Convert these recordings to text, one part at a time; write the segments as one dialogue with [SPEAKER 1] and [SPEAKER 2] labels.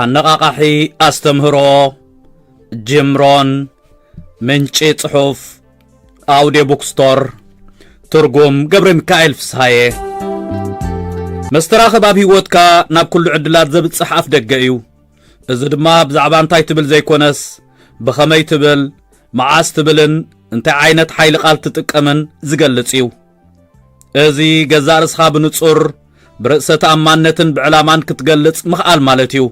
[SPEAKER 1] ኣነቓቓሒ ኣስተምህሮ ጅምሮን ምንጪ ጽሑፍ ኣውዴ ቡክስቶር ትርጉም ገብረ ሚካኤል ፍስሃየ መስተራኽብ ኣብ ህይወትካ ናብ ኩሉ ዕድላት ዘብጽሕ ኣፍ ደገ እዩ እዚ ድማ ብዛዕባ እንታይ ትብል ዘይኮነስ ብኸመይ ትብል መዓስ ትብልን እንታይ ዓይነት ሓይሊ ቓል ትጥቀምን ዝገልጽ እዩ እዚ ገዛእ ርእስኻ ብንጹር ብርእሰ ተኣማንነትን ብዕላማን ክትገልጽ ምኽኣል ማለት እዩ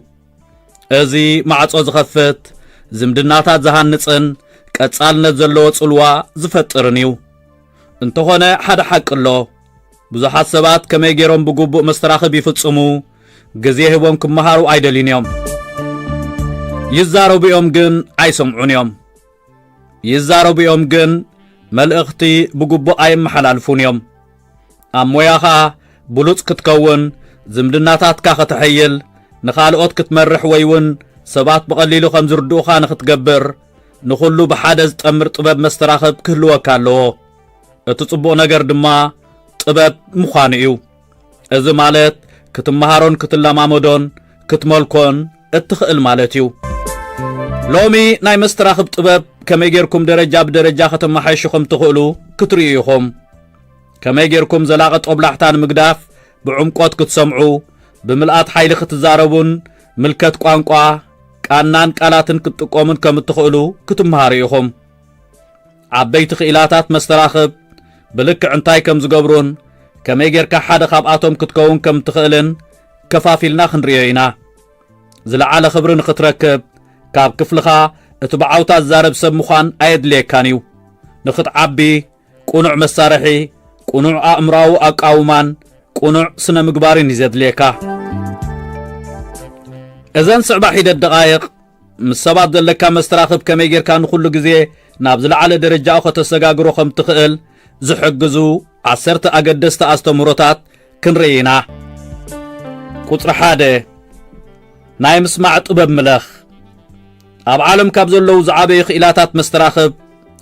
[SPEAKER 1] እዚ ማዕጾ ዝኸፍት ዝምድናታት ዝሃንጽን ቀጻልነት ዘለዎ ጽልዋ ዝፈጥርን እዩ እንተኾነ ሓደ ሓቂ ኣሎ ብዙሓት ሰባት ከመይ ገይሮም ብግቡእ መስተራኽብ ይፍጽሙ ግዜ ሂቦም ክመሃሩ ኣይደልዩን እዮም ይዛረቡ እዮም ግን ኣይሰምዑን እዮም ይዛረቡ እዮም ግን መልእኽቲ ብግቡእ ኣይመሓላልፉን እዮም። ኣብ ሞያኻ ብሉጽ ክትከውን፣ ዝምድናታትካ ከተሐይል፣ ንኻልኦት ክትመርሕ ወይ እውን ሰባት ብቐሊሉ ከም ዝርድኡኻ ንኽትገብር ንኹሉ ብሓደ ዝጠምር ጥበብ መስተራኽብ ክህልወካ ኣለዎ። እቲ ጽቡቕ ነገር ድማ ጥበብ ምዃኑ እዩ። እዚ ማለት ክትመሃሮን ክትለማመዶን ክትመልኮን እትኽእል ማለት እዩ። ሎሚ ናይ መስተራኽብ ጥበብ ከመይ ጌርኩም ደረጃ ብደረጃ ከተመሓይሹ ከም ትኽእሉ ክትርእዩ ኢኹም። ከመይ ጌርኩም ዘላቒ ጦብላሕታ ንምግዳፍ ብዕምቆት ክትሰምዑ፣ ብምልኣት ሓይሊ ክትዛረቡን ምልከት ቋንቋ፣ ቃናን ቃላትን ክትጥቀሙን ከም እትኽእሉ ክትመሃሩ ኢኹም። ዓበይቲ ክኢላታት መስተራኽብ ብልክዕ እንታይ ከም ዝገብሩን ከመይ ጌርካ ሓደ ካብኣቶም ክትከውን ከም እትኽእልን ከፋፊልና ክንርእዮ ኢና። ዝለዓለ ክብሪ ንኽትረክብ ካብ ክፍልኻ እቲ ብዓውታ ዝዛረብ ሰብ ምዃን ኣየድልየካን እዩ። ንኽትዓቢ ቁኑዕ መሳርሒ፣ ቁኑዕ ኣእምሮኣዊ ኣቃውማን ቁኑዕ ስነ ምግባርን እዩ ዘድልየካ። እዘን ዝስዕባ ሒደት ደቓይቕ ምስ ሰባት ዘለካ መስተራኽብ ከመይ ጌርካ ንኹሉ ግዜ ናብ ዝለዓለ ደረጃኡ ከተሰጋግሮ ከም ትኽእል ዝሕግዙ ዓሰርተ ኣገደስቲ ኣስተምህሮታት ክንርኢ ኢና። ቁጽሪ ሓደ ናይ ምስማዕ ጥበብ ምለኽ። ኣብ ዓለም ካብ ዘለዉ ዝዓበዩ ክኢላታት መስተራኽብ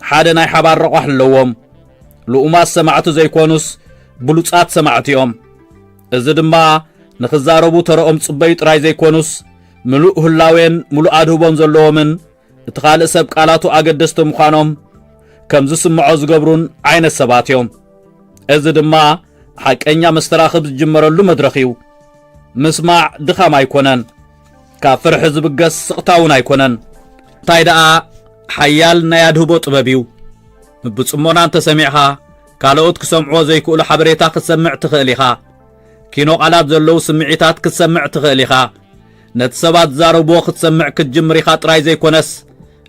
[SPEAKER 1] ሓደ ናይ ሓባር ረቋሕ ኣለዎም። ልኡማት ሰማዕቲ ዘይኮኑስ ብሉጻት ሰማዕቲ እዮም። እዚ ድማ ንኽዛረቡ ተረኦም ጽበዩ ጥራይ ዘይኮኑስ ምሉእ ህላዌን ምሉእ ኣድህቦን ዘለዎምን እቲ ኻልእ ሰብ ቃላቱ ኣገደስቲ ምዃኖም ከም ዝስምዖ ዝገብሩን ዓይነት ሰባት እዮም። እዚ ድማ ሓቀኛ መስተራኽብ ዝጅመረሉ መድረኽ እዩ። ምስማዕ ድኻም ኣይኮነን፣ ካብ ፍርሒ ዝብገስ ስቕታ እውን ኣይኮነን። እንታይ ደኣ ሓያል ናይ ኣድህቦ ጥበብ እዩ። ብጽሞና እንተሰሚዕኻ ካልኦት ክሰምዕዎ ዘይክእሉ ሓበሬታ ክትሰምዕ ትኽእል ኢኻ። ኪኖ ቓላት ዘለዉ ስምዒታት ክትሰምዕ ትኽእል ኢኻ። ነቲ ሰባት ዝዛረብዎ ክትሰምዕ ክትጅምር ኢኻ ጥራይ ዘይኮነስ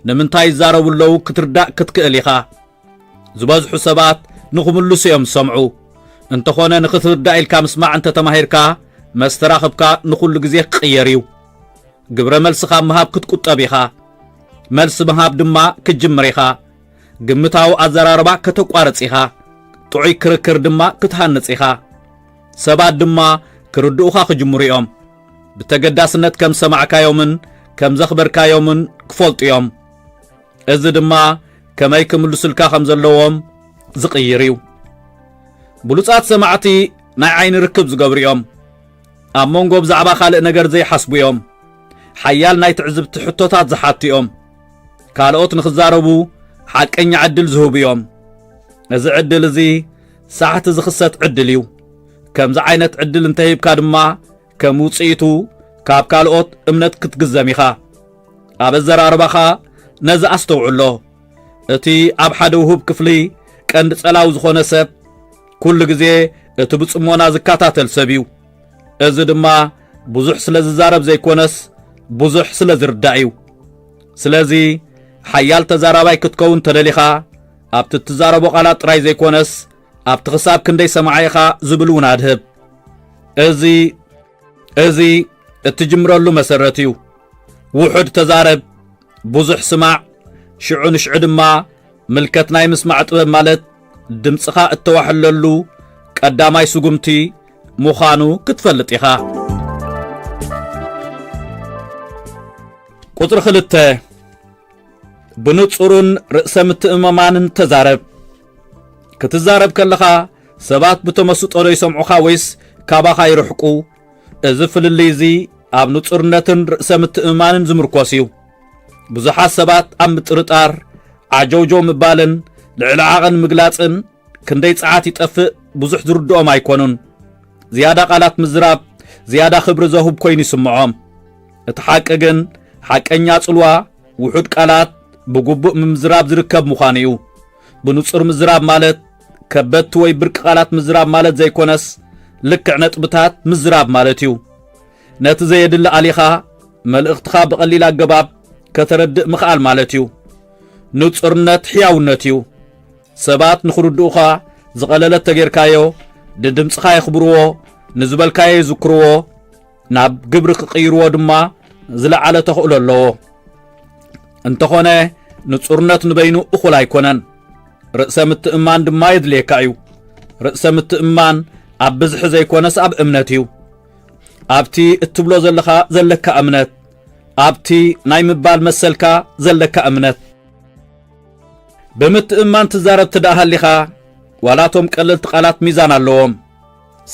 [SPEAKER 1] ንምንታይ ይዛረቡ ኣለዉ ክትርዳእ ክትክእል ኢኻ። ዝበዝሑ ሰባት ንኽምልሱ እዮም ዝሰምዑ። እንተኾነ ንኽትርዳእ ኢልካ ምስማዕ እንተ ተማሂርካ መስተራኽብካ ንኹሉ ግዜ ክቕየር እዩ። ግብረ መልሲ ካብ ምሃብ ክትቁጠብ ኢኻ። መልሲ ምሃብ ድማ ክትጅምር ኢኻ። ግምታዊ ኣዘራርባ ከተቋርጽ ኢኻ፣ ጥዑይ ክርክር ድማ ክትሃንጽ ኢኻ። ሰባት ድማ ክርድኡኻ ክጅምሩ እዮም። ብተገዳስነት ከም ዝሰማዕካዮምን ከም ዘኽበርካዮምን ክፈልጡ እዮም። እዚ ድማ ከመይ ክምልሱልካ ከም ዘለዎም ዝቕይር እዩ። ብሉጻት ሰማዕቲ ናይ ዓይኒ ርክብ ዝገብሩ እዮም። ኣብ መንጎ ብዛዕባ ካልእ ነገር ዘይሓስቡ እዮም። ሓያል ናይ ትዕዝብቲ ሕቶታት ዝሓቱ እዮም። ካልኦት ንኽዛረቡ ሓቀኛ ዕድል ዝህቡ እዮም እዚ ዕድል እዚ ሳሕቲ ዝኽሰት ዕድል እዩ ከምዚ ዓይነት ዕድል እንተሂብካ ድማ ከም ውፅኢቱ ካብ ካልኦት እምነት ክትግዘም ኢኻ ኣብ ኣዘራርባኻ ነዚ ኣስተውዕሎ እቲ ኣብ ሓደ ውሁብ ክፍሊ ቀንዲ ጸላዊ ዝኾነ ሰብ ኩሉ ግዜ እቲ ብጽሞና ዝከታተል ሰብ እዩ እዚ ድማ ብዙሕ ስለ ዝዛረብ ዘይኮነስ ብዙሕ ስለ ዝርዳእ እዩ። ስለዚ ሓያል ተዛራባይ ክትከውን ተደሊኻ ኣብቲ እትዛረቦ ቃላት ጥራይ ዘይኮነስ ኣብቲ ክሳብ ክንደይ ሰማዒ ኢኻ ዝብል እውን ኣድህብ። እዚ እዚ እትጅምረሉ መሰረት እዩ። ውሑድ ተዛረብ፣ ብዙሕ ስማዕ ሽዑ ንሽዑ ድማ ምልከት ናይ ምስማዕ ጥበብ ማለት ድምፅኻ እተዋሕለሉ ቀዳማይ ስጉምቲ ምዃኑ ክትፈልጥ ኢኻ። ቁፅሪ ክልተ ብንጹርን ርእሰ ምትእምማንን ተዛረብ። ክትዛረብ ከለኻ ሰባት ብተመስጦ ዶ ይሰምዑኻ ወይስ ካባኻ ይርሕቁ እዚ ፍልልይ እዚ ኣብ ንጹርነትን ርእሰ ምትእምማንን ዝምርኮስ እዩ። ብዙሓት ሰባት ኣብ ምጥርጣር ዓጀውጀው ምባልን ልዕሊ ዓቐን ምግላጽን ክንደይ ጸዓት ይጠፍእ ብዙሕ ዝርድኦም ኣይኮኑን። ዝያዳ ቃላት ምዝራብ ዝያዳ ክብሪ ዘሁብ ኮይኑ ይስምዖም። እቲ ሓቂ ግን ሓቀኛ ጽልዋ ውሑድ ቃላት ብግቡእ ምምዝራብ ዝርከብ ምዃኑ እዩ። ብንጹር ምዝራብ ማለት ከበድቲ ወይ ብርቂ ቃላት ምዝራብ ማለት ዘይኮነስ ልክዕ ነጥብታት ምዝራብ ማለት እዩ። ነቲ ዘየድሊ ኣሊኻ መልእኽትኻ ብቐሊል ኣገባብ ከተረድእ ምኽኣል ማለት እዩ። ንጹርነት ሕያውነት እዩ። ሰባት ንኽርድኡኻ ዝቐለለት ተጌርካዮ፣ ንድምፅኻ የኽብርዎ፣ ንዝበልካዮ ይዝክርዎ፣ ናብ ግብሪ ክቕይርዎ ድማ ዝለዓለ ተኽእሎ ኣለዎ እንተኾነ ንጹርነት ንበይኑ እኹል ኣይኮነን ርእሰ ምትእማን ድማ የድልየካ እዩ ርእሰ ምትእማን ኣብ ብዝሒ ዘይኮነስ ኣብ እምነት እዩ ኣብቲ እትብሎ ዘለኻ ዘለካ እምነት ኣብቲ ናይ ምባል መሰልካ ዘለካ እምነት ብምትእማን ትዛረብ ትደኣ ሃሊኻ ዋላቶም ቀለልቲ ቃላት ሚዛን ኣለዎም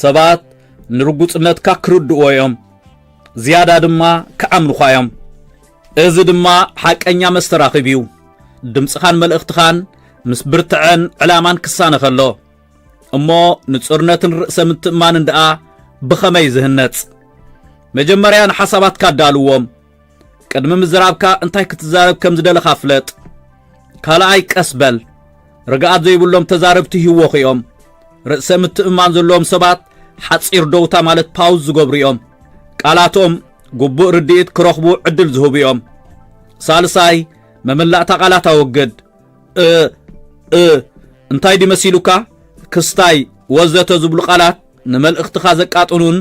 [SPEAKER 1] ሰባት ንርጉጽነትካ ክርድእዎ እዮም፣ ዝያዳ ድማ ክኣምኑኻ እዮም። እዚ ድማ ሓቀኛ መስተራኽብ እዩ። ድምጽኻን መልእኽትኻን ምስ ብርትዐን ዕላማን ክሳነ ከሎ እሞ ንጹርነትን ርእሰ ምትእማንን ደኣ ብኸመይ ዝህነጽ? መጀመርያ ንሓሳባትካ ኣዳልዎም። ቅድሚ ምዝራብካ እንታይ ክትዛረብ ከም ዝደለኻ ፍለጥ ካልኣይ ቀስ በል ርግኣት ዘይብሎም ተዛረብቲ ህወኹ እዮም ርእሰ ምትእማን ዘለዎም ሰባት ሓፂር ደውታ ማለት ፓውዝ ዝገብሩ እዮም ቃላቶም ግቡእ ርድኢት ክረኽቡ ዕድል ዝህቡ እዮም ሳልሳይ መመላእታ ቃላት ኣወግድ እ እ እንታይ ድዩ መሲሉካ ክስታይ ወዘተ ዝብሉ ቃላት ንመልእኽትኻ ዘቃጥኑን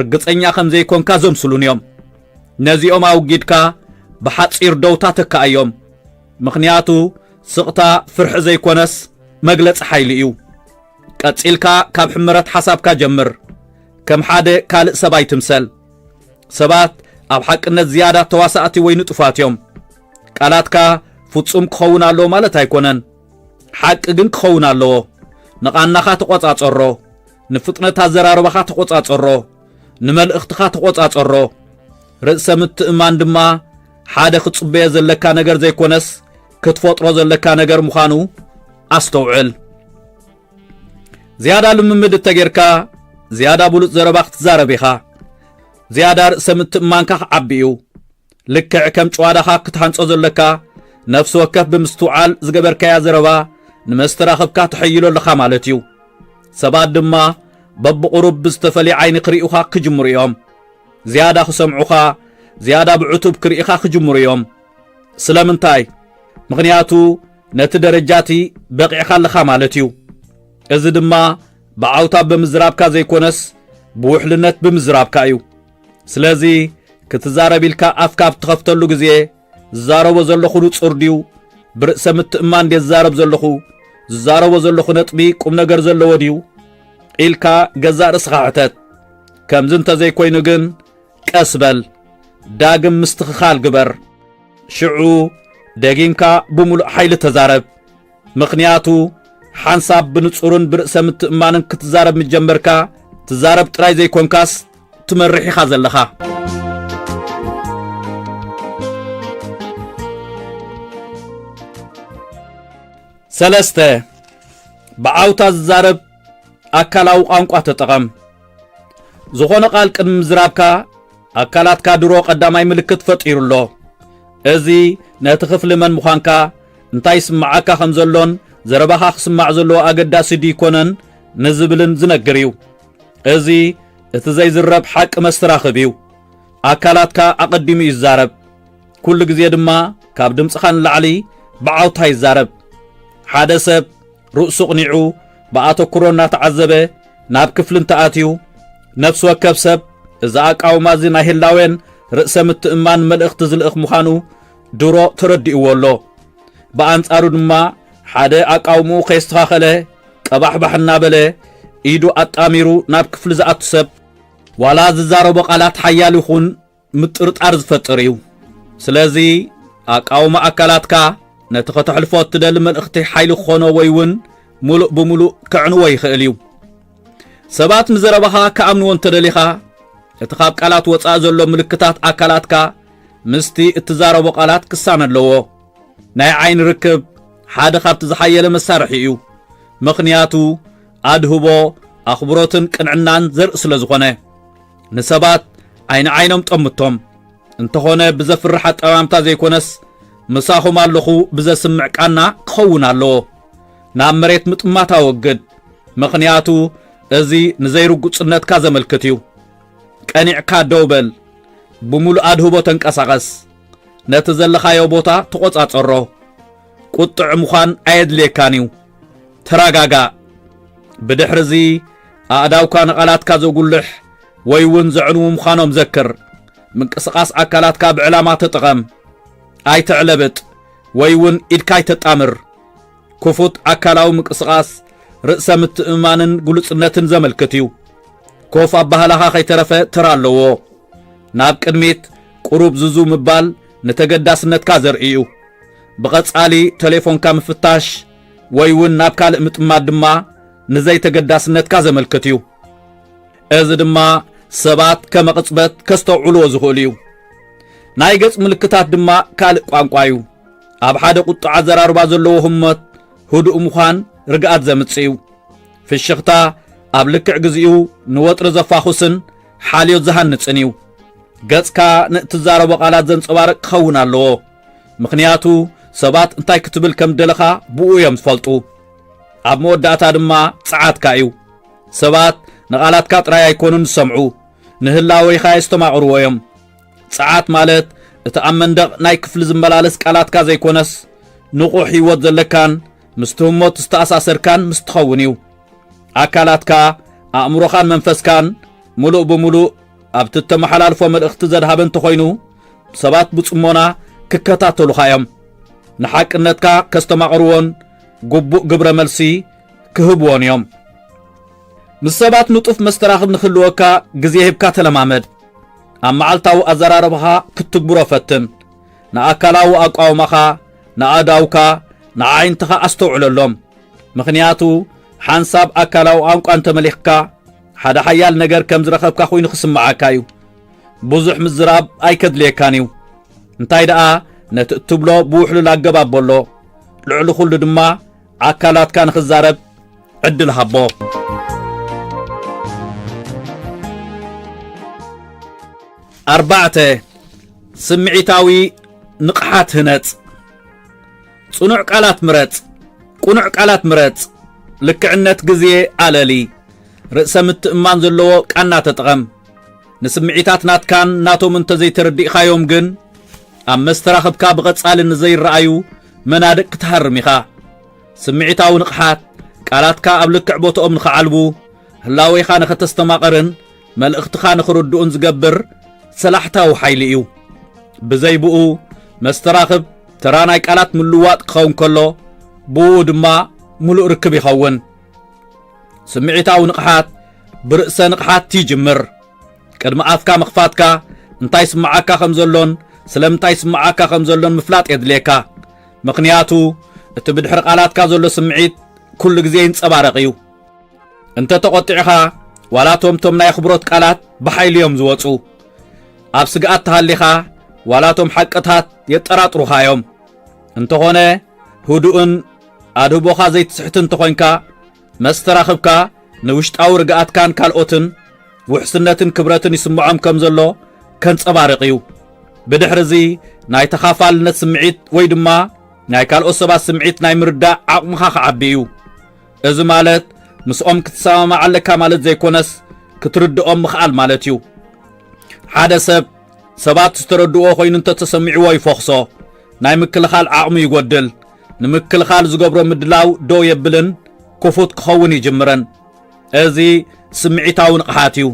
[SPEAKER 1] ርግፀኛ ከም ዘይኮንካ ዘምስሉን እዮም ነዚኦም ኣውጊድካ ብሓጺር ደውታ ተካኣዮም ምኽንያቱ ስቕታ ፍርሒ ዘይኮነስ መግለጺ ሓይሊ እዩ ቀጺልካ ካብ ሕመረት ሓሳብካ ጀምር ከም ሓደ ካልእ ሰብ ኣይትምሰል ሰባት ኣብ ሓቅነት ዝያዳ ተዋሳእቲ ወይ ንጡፋት እዮም ቃላትካ ፍጹም ክኸውን ኣለዎ ማለት ኣይኮነን ሓቂ ግን ክኸውን ኣለዎ ንቓናኻ ተቖጻጸሮ ንፍጥነት ኣዘራርባኻ ተቖጻጸሮ፣ ንመልእኽትኻ ተቖጻጸሮ። ርእሰ ምትእምማን ድማ ሓደ ክትጽበዮ ዘለካ ነገር ዘይኮነስ ክትፈጥሮ ዘለካ ነገር ምዃኑ ኣስተውዕል። ዝያዳ ልምምድ እተጌርካ ዝያዳ ብሉጽ ዘረባ ክትዛረብ ኢኻ። ዝያዳ ርእሰ ምትእምማንካ ክዓቢ እዩ። ልክዕ ከም ጭዋዳኻ ክትሃንጾ ዘለካ ነፍሲ ወከፍ ብምስትውዓል ዝገበርካያ ዘረባ ንመስተራኽብካ ተሐይሎ ኣለኻ ማለት እዩ ሰባት ድማ በብቑሩብ ብዝተፈልየ ዓይኒ ክርእዩኻ ክጅምሩ እዮም ዝያዳ ክሰምዑኻ ዝያዳ ብዕቱብ ክርእኻ ክጅምሩ እዮም ስለምንታይ ምኽንያቱ ነቲ ደረጃ እቲ በቒዕኻ ኣለኻ ማለት እዩ እዚ ድማ ብዓውታ ብምዝራብካ ዘይኮነስ ብውሕልነት ብምዝራብካ እዩ ስለዚ ክትዛረብ ኢልካ ኣፍካ ኣብ ትኸፍተሉ ግዜ ዝዛረቦ ዘለኹ ንጹር ድዩ ብርእሰ ምትእማን ድየ ዝዛረብ ዘለኹ ዝዛረቦ ዘለኹ ነጥቢ ቁም ነገር ዘለዎ ድዩ ኢልካ ገዛእ ርእስኻ ሕተት ከምዚ እንተዘይኮይኑ ግን ቀስ በል ዳግም ምስትኽኻል ግበር ሽዑ ደጊምካ ብምሉእ ሓይሊ ተዛረብ ምኽንያቱ ሓንሳብ ብንጹርን ብርእሰ ምትእማንን ክትዛረብ ምስ ጀመርካ ትዛረብ ጥራይ ዘይኮንካስ ትመርሕ ኢኻ ዘለኻ ሰለስተ ብዓውታ ዝዛረብ ኣካላዊ ቋንቋ ተጠቐም ዝኾነ ቃል ቅድሚ ምዝራብካ ኣካላትካ ድሮ ቀዳማይ ምልክት ፈጢሩ ኣሎ እዚ ነቲ ክፍሊ መን ምዃንካ እንታይ ይስምዓካ ከም ዘሎን ዘረባኻ ክስማዕ ዘለዎ ኣገዳሲ ድይኮነን ንዝብልን ዝነግር እዩ። እዚ እቲ ዘይዝረብ ሓቂ መስተራኽብ እዩ። ኣካላትካ ኣቐዲሙ እዩ ዝዛረብ። ኩሉ ግዜ ድማ ካብ ድምጽኻ ንላዕሊ ብዓውታ ይዛረብ። ሓደ ሰብ ርእሱ ኣቕኒዑ ብኣተኩሮ እናተዓዘበ ናብ ክፍሊ እንተኣትዩ፣ ነፍሲ ወከፍ ሰብ እዚ ኣቃውማ እዚ ናይ ህላዌን ርእሰ ምትእምማንን መልእኽቲ ዝልእኽ ምዃኑ ድሮ ተረዲእዎ ኣሎ። ብኣንጻሩ ድማ ሓደ ኣቃውምኡ ከየስተኻኸለ ቀባሕባሕ እናበለ ኢዱ ኣጣሚሩ ናብ ክፍሊ ዝኣቱ ሰብ ዋላ ዝዛረቦ ቃላት ሓያል ይኹን ምጥርጣር ዝፈጥር እዩ። ስለዚ ኣቃውማ ኣካላትካ ነቲ ከተሕልፎ እትደሊ መልእኽቲ ሓይሊ ክኾኖ ወይ እውን ምሉእ ብምሉእ ከዕንዎ ይኽእል እዩ። ሰባት ንዘረባኻ ክኣምንዎ እንተደሊኻ እቲ ካብ ቃላት ወፃኢ ዘሎ ምልክታት ኣካላትካ ምስቲ እትዛረቦ ቃላት ክሳነ ኣለዎ። ናይ ዓይኒ ርክብ ሓደ ካብቲ ዝሓየለ መሳርሒ እዩ። ምኽንያቱ ኣድህቦ ኣኽብሮትን ቅንዕናን ዘርኢ ስለ ዝኾነ ንሰባት ዓይኒ ዓይኖም ጠምቶም እንተኾነ ብዘፍርሕ ኣጠማምታ ዘይኮነስ ምሳኹም ኣለኹ ብዘስምዕ ቃና ክኸውን ኣለዎ። ናብ መሬት ምጥማት ኣወግድ፣ ምኽንያቱ እዚ ንዘይርጉጽነትካ ዘመልክት እዩ። ቀኒዕካ ደው በል፣ ብምሉእ ኣድህቦ ተንቀሳቐስ፣ ነቲ ዘለኻዮ ቦታ ተቖጻጸሮ። ቁጥዕ ምዃን ኣየድልየካን እዩ። ተረጋጋእ። ብድሕርዚ ኣእዳውካ ንቓላትካ ዘጉልሕ ወይ እውን ዘዕንዉ ምዃኖም ዘክር። ምንቅስቓስ ኣካላትካ ብዕላማ ተጠቐም። ኣይተዕለብጥ ወይ እውን ኢድካ ኣይተጣምር። ክፉት ኣካላዊ ምቅስቓስ ርእሰ ምትእምማንን ግሉጽነትን ዘመልክት እዩ። ኮፍ ኣባህላኻ ከይተረፈ ተራ ኣለዎ። ናብ ቅድሚት ቁሩብ ዝዙ ምባል ንተገዳስነትካ ዘርኢ እዩ። ብቐጻሊ ተሌፎንካ ምፍታሽ ወይ እውን ናብ ካልእ ምጥማት ድማ ንዘይተገዳስነትካ ዘመልክት እዩ። እዚ ድማ ሰባት ከመቕጽበት ከስተውዕልዎ ዝኽእሉ እዩ። ናይ ገጽ ምልክታት ድማ ካልእ ቋንቋ እዩ። ኣብ ሓደ ቁጡዕ ኣዘራርባ ዘለዎ ህሞት ህዱእ ምዃን ርግኣት ዘምጽእ እዩ ፍሽኽታ ኣብ ልክዕ ግዚኡ ንወጥሪ ዘፋኹስን ሓልዮት ዝሃንጽን እዩ ገጽካ ንእትዛረቦ ቃላት ዘንጸባርቅ ክኸውን ኣለዎ ምኽንያቱ ሰባት እንታይ ክትብል ከም ደለኻ ብኡ እዮም ዝፈልጡ ኣብ መወዳእታ ድማ ጸዓትካ እዩ ሰባት ንቓላትካ ጥራይ ኣይኮኑን ዝሰምዑ ንህላወይኻ የስተማቕርዎ እዮም ጸዓት ማለት እቲ ኣብ መንደቕ ናይ ክፍሊ ዝመላለስ ቃላትካ ዘይኮነስ ንቑሕ ህይወት ዘለካን ምስቲ ህሞት ዝተኣሳሰርካን ምስ ትኸውን እዩ። ኣካላትካ፣ ኣእምሮኻን መንፈስካን ምሉእ ብምሉእ ኣብቲ እተመሓላልፎ መልእኽቲ ዘድሃበ እንተኾይኑ ሰባት ብጽሞና ክከታተሉኻ እዮም። ንሓቅነትካ ከስተማቕርዎን ግቡእ ግብረ መልሲ ክህብዎን እዮም። ምስ ሰባት ንጡፍ መስተራኽብ ንክህልወካ ግዜ ሂብካ ተለማመድ። ኣብ መዓልታዊ ኣዘራርባኻ ክትትግብሮ ፈትን። ንኣካላዊ ኣቋውማኻ፣ ንኣእዳውካ፣ ንኣዒንትኻ ኣስተውዕለሎም። ምኽንያቱ ሓንሳብ ኣካላዊ ቛንቋ እንተ መሊኽካ፣ ሓደ ሓያል ነገር ከም ዝረኸብካ ኹይኑ ክስምዓካ እዩ። ብዙሕ ምዝራብ ኣይከድልየካን እዩ። እንታይ ደኣ ነቲ እትብሎ ብውሕሉል ኣገባብ በሎ። ልዕሊ ኹሉ ድማ፣ ኣካላትካ ንኽዛረብ ዕድል ሃቦ። ኣርባዕተ፣ ስምዒታዊ ንቕሓት ህነጽ። ጽኑዕ ቃላት ምረጽ፣ ቅኑዕ ቃላት ምረጽ፣ ልክዕነት ግዜ ኣለሊ፣ ርእሰ ምትእማን ዘለዎ ቃና ተጠቐም። ንስምዒታት ናትካን ናቶም እንተዘይተረዲእካዮም ግን ኣብ መስተራኽብካ ብቐጻሊ ንዘይረኣዩ መናድቕ ክትሃርም ኢኻ። ስምዒታዊ ንቕሓት፣ ቃላትካ ኣብ ልክዕ ቦትኦም ንኽዓልቡ፣ ህላዌኻ ንኸተስተማቕርን መልእኽትኻ ንኽርድኡን ዝገብር ሰላሕታዊ ሓይሊ እዩ። ብዘይ ብኡ፣ መስተራኽብ ተራ ናይ ቃላት ምልውዋጥ ክኸውን ከሎ፣ ብኡ ድማ ምሉእ ርክብ ይኸውን። ስምዒታዊ ንቕሓት ብርእሰ ንቕሓት ይጅምር። ቅድሚ ኣፍካ ምኽፋትካ እንታይ ይስምዓካ ከም ዘሎን ስለምንታይ ይስምዓካ ከም ዘሎን ምፍላጥ የድልየካ። ምኽንያቱ እቲ ብድሕሪ ቃላትካ ዘሎ ስምዒት ኩሉ ግዜ ይንጸባረቕ እዩ። እንተ ተቖጢዕኻ ዋላ እቶም እቶም ናይ ኣኽብሮት ቃላት ብሓይሊ እዮም ዝወጹ። ኣብ ስግኣት ተሃሊኻ ዋላ እቶም ሓቅታት የጠራጥሩኻ እዮም። እንተኾነ ህዱእን ኣድህቦኻ ዘይትስሕትን እንተኾይንካ መስተራኽብካ ንውሽጣዊ ርግኣትካን ካልኦትን ውሕስነትን ክብረትን ይስምዖም ከም ዘሎ ከንጸባርቕ እዩ። ብድሕሪ እዚ ናይ ተኻፋልነት ስምዒት ወይ ድማ ናይ ካልኦት ሰባት ስምዒት ናይ ምርዳእ ዓቕምኻ ክዓቢ እዩ። እዚ ማለት ምስኦም ክትሰማማዕ ኣለካ ማለት ዘይኮነስ ክትርድኦም ምኽኣል ማለት እዩ። ሓደ ሰብ ሰባት ዝተረድእዎ ኮይኑ እንተተሰሚዕዎ ይፎኽሶ፣ ናይ ምክልኻል ዓቕሙ ይጎድል። ንምክልኻል ዝገብሮ ምድላው ደው የብልን ክፉት ክኸውን ይጅምረን እዚ ስምዒታዊ ንቕሓት እዩ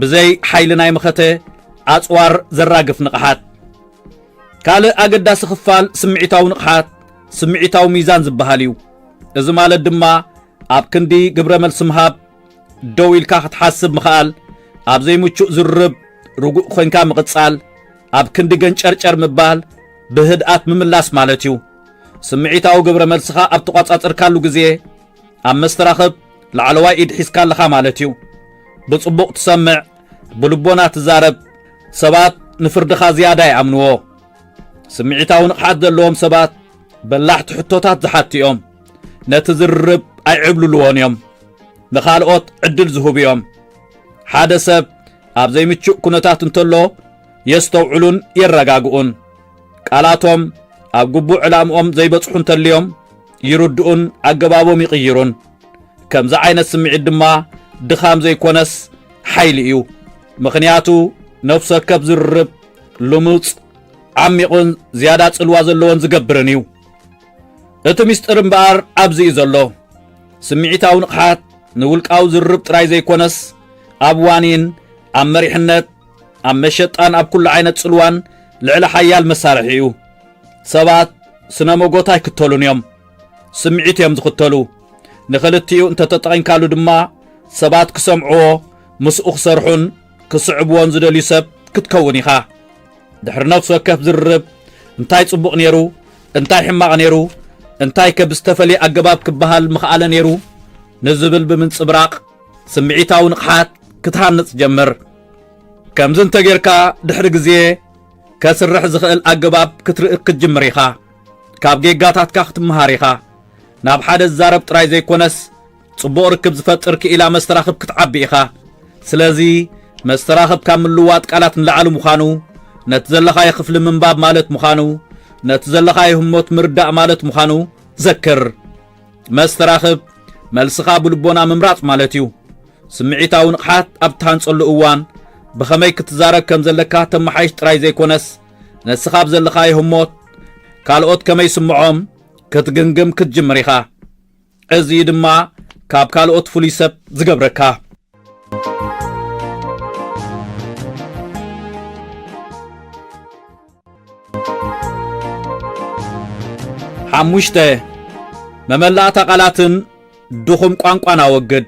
[SPEAKER 1] ብዘይ ሓይሊ ናይ መኸተ ኣጽዋር ዘራግፍ ንቕሓት ካልእ ኣገዳሲ ክፋል ስምዒታዊ ንቕሓት ስምዒታዊ ሚዛን ዝበሃል እዩ እዚ ማለት ድማ ኣብ ክንዲ ግብረ መልሲ ምሃብ ደው ኢልካ ክትሓስብ ምኽኣል ኣብ ዘይምቹእ ዝርርብ ርጉእ ኮንካ ምቕጻል ኣብ ክንዲ ገንጨርጨር ምባል ብህድኣት ምምላስ ማለት እዩ። ስምዒታዊ ግብረ መልስኻ ኣብ ተቋጻጽርካሉ ግዜ ኣብ መስተራኽብ ላዕለዋይ ኢድ ሒዝካ ኣለኻ ማለት እዩ። ብጽቡቕ ትሰምዕ፣ ብልቦና ትዛረብ፣ ሰባት ንፍርድኻ ዝያዳ ይኣምንዎ። ስምዒታዊ ንቕሓት ዘለዎም ሰባት በላሕቲ ሕቶታት ዝሓቱ እዮም። ነቲ ዝርርብ ኣይዕብልልዎን እዮም። ንኻልኦት ዕድል ዝህቡ እዮም። ሓደ ሰብ ኣብ ዘይምቹእ ኩነታት እንተሎ የስተውዕሉን የረጋግኡን። ቃላቶም ኣብ ግቡእ ዕላምኦም ዘይበጽሑ እንተልዮም ይርድኡን ኣገባቦም ይቕይሩን። ከምዚ ዓይነት ስምዒት ድማ ድኻም ዘይኮነስ ሓይሊ እዩ። ምኽንያቱ ነፍሲ ወከፍ ዝርርብ ልሙጽ፣ ዓሚቝን ዝያዳ ጽልዋ ዘለዎን ዝገብርን እዩ። እቲ ምስጢር እምበኣር ኣብዚ እዩ ዘሎ። ስምዒታዊ ንቕሓት ንውልቃዊ ዝርርብ ጥራይ ዘይኮነስ ኣብ ዋኒን፣ ኣብ መሪሕነት፣ ኣብ መሸጣን ኣብ ኩሉ ዓይነት ጽልዋን ልዕሊ ሓያል መሳርሒ እዩ። ሰባት ስነ መጎት ኣይክተሉን እዮም፣ ስምዒት እዮም ዝኽተሉ። ንኽልቲኡ እንተተጠቒምካሉ ድማ ሰባት ክሰምዕዎ፣ ምስኡ ክሰርሑን ክስዕብዎን ዝደልዩ ሰብ ክትከውን ኢኻ። ድሕሪ ነፍሲ ወከፍ ዝርርብ እንታይ ጽቡቕ ነይሩ፣ እንታይ ሕማቕ ነይሩ፣ እንታይ ከ ብዝተፈልየ ኣገባብ ክበሃል ምኽኣለ ነይሩ ንዝብል ብምንጽብራቕ ስምዒታዊ ንቕሓት ክትሃንጽ ጀምር። ከምዚ እንተጌርካ ድሕሪ ግዜ ከስርሕ ዝኽእል ኣገባብ ክትርኢ ክትጅምር ኢኻ። ካብ ጌጋታትካ ክትመሃር ኢኻ። ናብ ሓደ ዝዛረብ ጥራይ ዘይኮነስ ጽቡቕ ርክብ ዝፈጥር ክኢላ መስተራኽብ ክትዓቢ ኢኻ። ስለዚ መስተራኽብ ካብ ምልውዋጥ ቃላት ንላዕሊ ምዃኑ፣ ነቲ ዘለኻዮ ክፍሊ ምንባብ ማለት ምዃኑ፣ ነቲ ዘለኻዮ ህሞት ምርዳእ ማለት ምዃኑ ዘክር። መስተራኽብ መልስኻ ብልቦና ምምራጽ ማለት እዩ። ስምዒታዊ ንቕሓት ኣብ እትሃንጸሉ እዋን ብኸመይ ክትዛረብ ከም ዘለካ ተመሓይሽ ጥራይ ዘይኮነስ ነስኻ ኣብ ዘለኻዮ ህሞት ካልኦት ከመይ ይስምዖም ክትግምግም ክትጅምር ኢኻ። እዚ እዩ ድማ ካብ ካልኦት ፍሉይ ሰብ ዝገብረካ። ሓሙሽተ መመላእታ ቃላትን ድኹም ቋንቋን ኣወግድ።